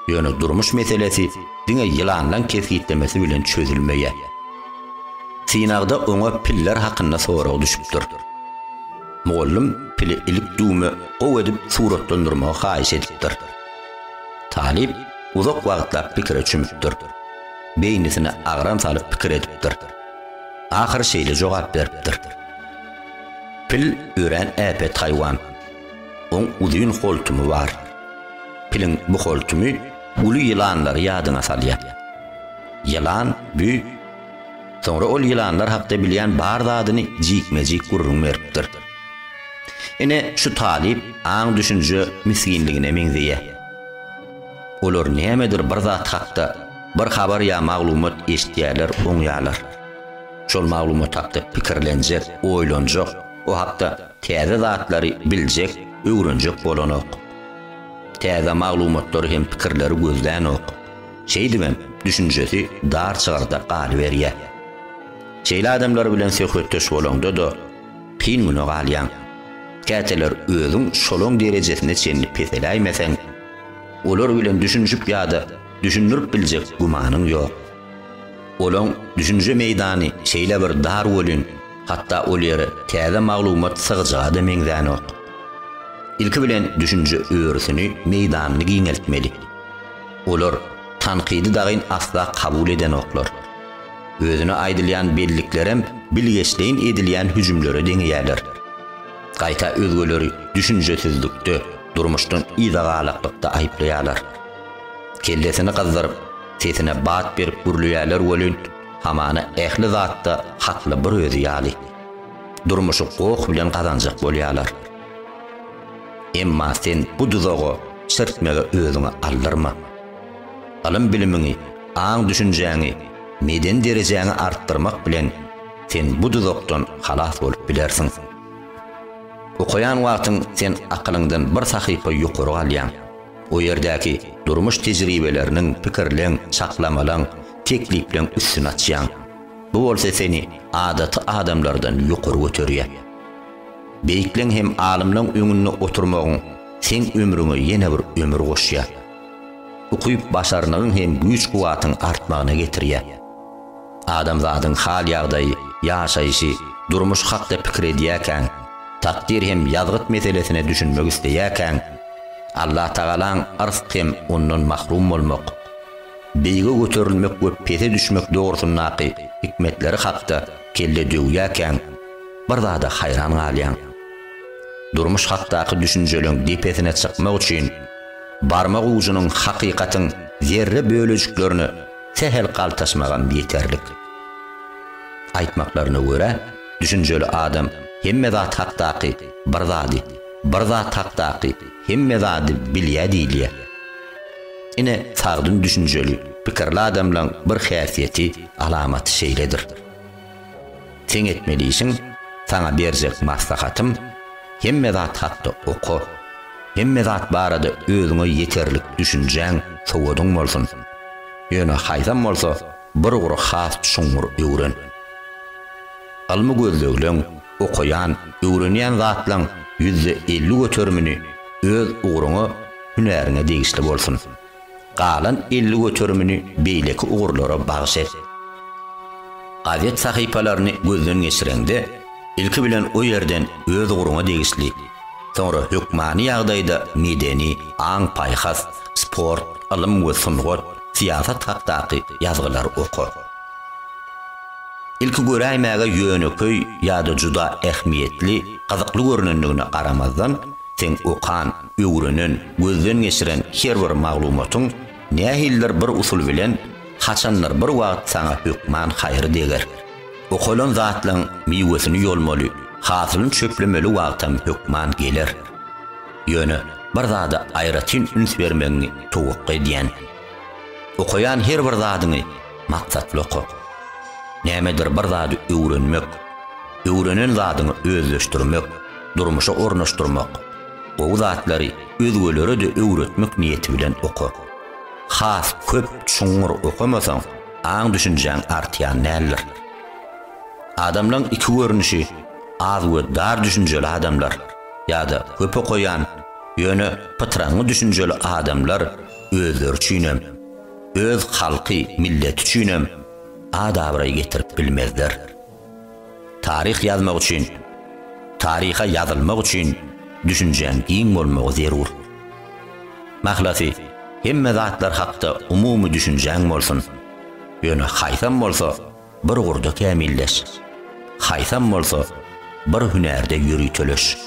Ýöne durmuş meselesi diňe ýylanlaň kesgitlemesi bilen çözülmeýär. Synagda oňa piller hakynda sorag düşüpdir. Mugallym pili ilik düwme gowy edip suratlandyrmagy haýyş edipdir. Talyp uzak wagtlap pikire çümüpdir. Beýnisine agram salyp pikir edipdir. Ahyry şeýle jogap beripdir. Pil örän äpet haýwan. Oň uzyn holtumy bar. Piliň bu holtumy uly ýylanlary ýadyňa salýar. Ýylan, bü, Soňra ol ýylanlar hakda bilýän bar zadyny jikme-jik gürrüň beripdir. Ine, şu talyp aň-düşünje misginligine meňzeýär. Olar nämedir bir zat hakda bir habar ýa maglumat eşitýärler, oňýarlar. Şol maglumat hakda pikirlenjek, oýlanjak, o hakda täze zatlary biljek, öwrenjek bolanok. Täze maglumatlary hem pikirleri gözlänok. Şeýdibem, düşünjesi dar çygrda galyberýär. Şeýle adamlar bilen söhbetdeş bolaňda-da, kyn güne galýaň. Käteler özüň şolaň derejesine çenli peseläýmeseň, olar bilen düşünişip ýa-da düşündirip biljek gümanyň ýok. Olaň düşünje meýdany şeýle bir dar welin, hatda ol ýere täze maglumat sygjaga-da meňzänok. Ilki bilen düşünje örüsini, meýdanyny giňeltmeli. Olar tankydy dagyn asla kabul edenoklar. Özüne aýdylýan belliklerem bilgeşleýin edilýän hüjümlere deňeýärler. Gaýta özgeleri düşünjesizlikde, durmuşdan yzagalakdykda aýyplaýarlar. Kellesini gyzdyryp, sesine bat berip gürleýärler welin, hamana ähli zatda hakly bir özi ýaly. Durmuşy goh bilen gazanjak bolýarlar. Emma sen bu duzaga çyrtmegi özüňe aldyrma. Ylym-bilimiňi, aň-düşünjäňi, medeni derejäňi artdyrmak bilen sen bu duzakdan halas bolup bilersiň. Okaýan wagtyň sen akylyňdan bir sahypa ýokary galýaň. O ýerdäki durmuş tejribeleriniň, pikirleň, çaklamalaň, teklipleň üstüni açýaň. Bu bolsa seni adaty adamlardan ýokary göterýär. Beýikleň hem alymlaň öňünde oturmagyň seň ömrüňe ýene bir ömür goşýar. Ukyp-başarnygyň hem güýç-kuwwatyň artmagyna getirýär. Adamzadyň hal-ýagdaýy, ýaşaýşy, durmuş hakda pikir edýäkäň, takdyr hem ýazgyt meselesine düşünmek isleýäkäň, Allatagalaň yrsg hem ondan mahrum bolmak, beýige göterilmek we pese düşmek dogrusyndaky hikmetleri hakda kelle döwýäkäň, Bir zada haýran galýaň. Durmuş hakdaky düşünjeleň depesine çykmak üçin barmak ujynyň hakykatyň zerre bölejiklerine sähel galtaşmagam ýeterlik. Aýtmaklaryna görä, düşünjeli adam hemme zat hakdaky bir zady, bir zat hakdaky hemme zady bilýär diýilýär. Ine, sagdyn düşünjeli, pikirli adamlaň bir häsiýeti, alamaty şeýledir. Seň etmeli işiň, saňa berjek maslahatym, hemme zat hakda oka, hemme zat barada özüňe ýeterlik düşünjäň, sowadyň bolsun. Ýöne haýsam bolsa bir ugry has çuňňur öwren. Ylmy gözlegleň, okaýan, öwrenýän zatlaň ýüzde elli göterimini öz ugruňa, hünäriňe degişli bolsun. Galan elli göterimini beýleki ugurlara bagyş et. Gazet sahypalaryny gözden geçireňde, ilki bilen o ýerden öz ugruňa degişli, soňra hökmany ýagdaýda medeni, aň-paýhas, sport, ylym we sungat, syýasat hakdaky ýazgylary oka. Ilki göräýmäge ýönekeý ýa-da juda ähmiýetli, gyzykly görnendigine garamazdan, seň okan, öwrenen, gözden geçiren her bir maglumatyň nähilidir bir usul bilen haçandyr bir wagt saňa hökman haýry deger. Okalan zatlaň miwesini ýolmaly, hasylyny çöplemeli wagtam hökman geler. Ýöne bir zada aýratyn üns bermegiňi towakga edýän. Okaýan her bir zadyňy maksatly oka. Nämedir bir zady öwrenmek, öwrenen zadyňy özleşdirmek, durmuşa ornaşdyrmak, Gowy zatlary özgelere-de öwretmek niýeti bilen oka. Has köp, çuňňur okamasaň, aň-düşünjäň artýan däldir. Adamlaryň iki görnüşi, az we dar düşünjeli adamlar ýa-da köp okaýan, ýöne pytraňňy düşünjeli adamlar özleri üçin hem, öz halky, milleti üçin hem ad-abraý getirip bilmezler. Taryh ýazmak üçin, taryha ýazylmak üçin düşünjäň giň bolmagy zerur. Mahlasy, hemme zatlar hakda umumy düşünjäň bolsun. Ýöne haýsam bolsa bir ugurda kämilleş. Haýsam bolsa bir hünärde ýöriteleş.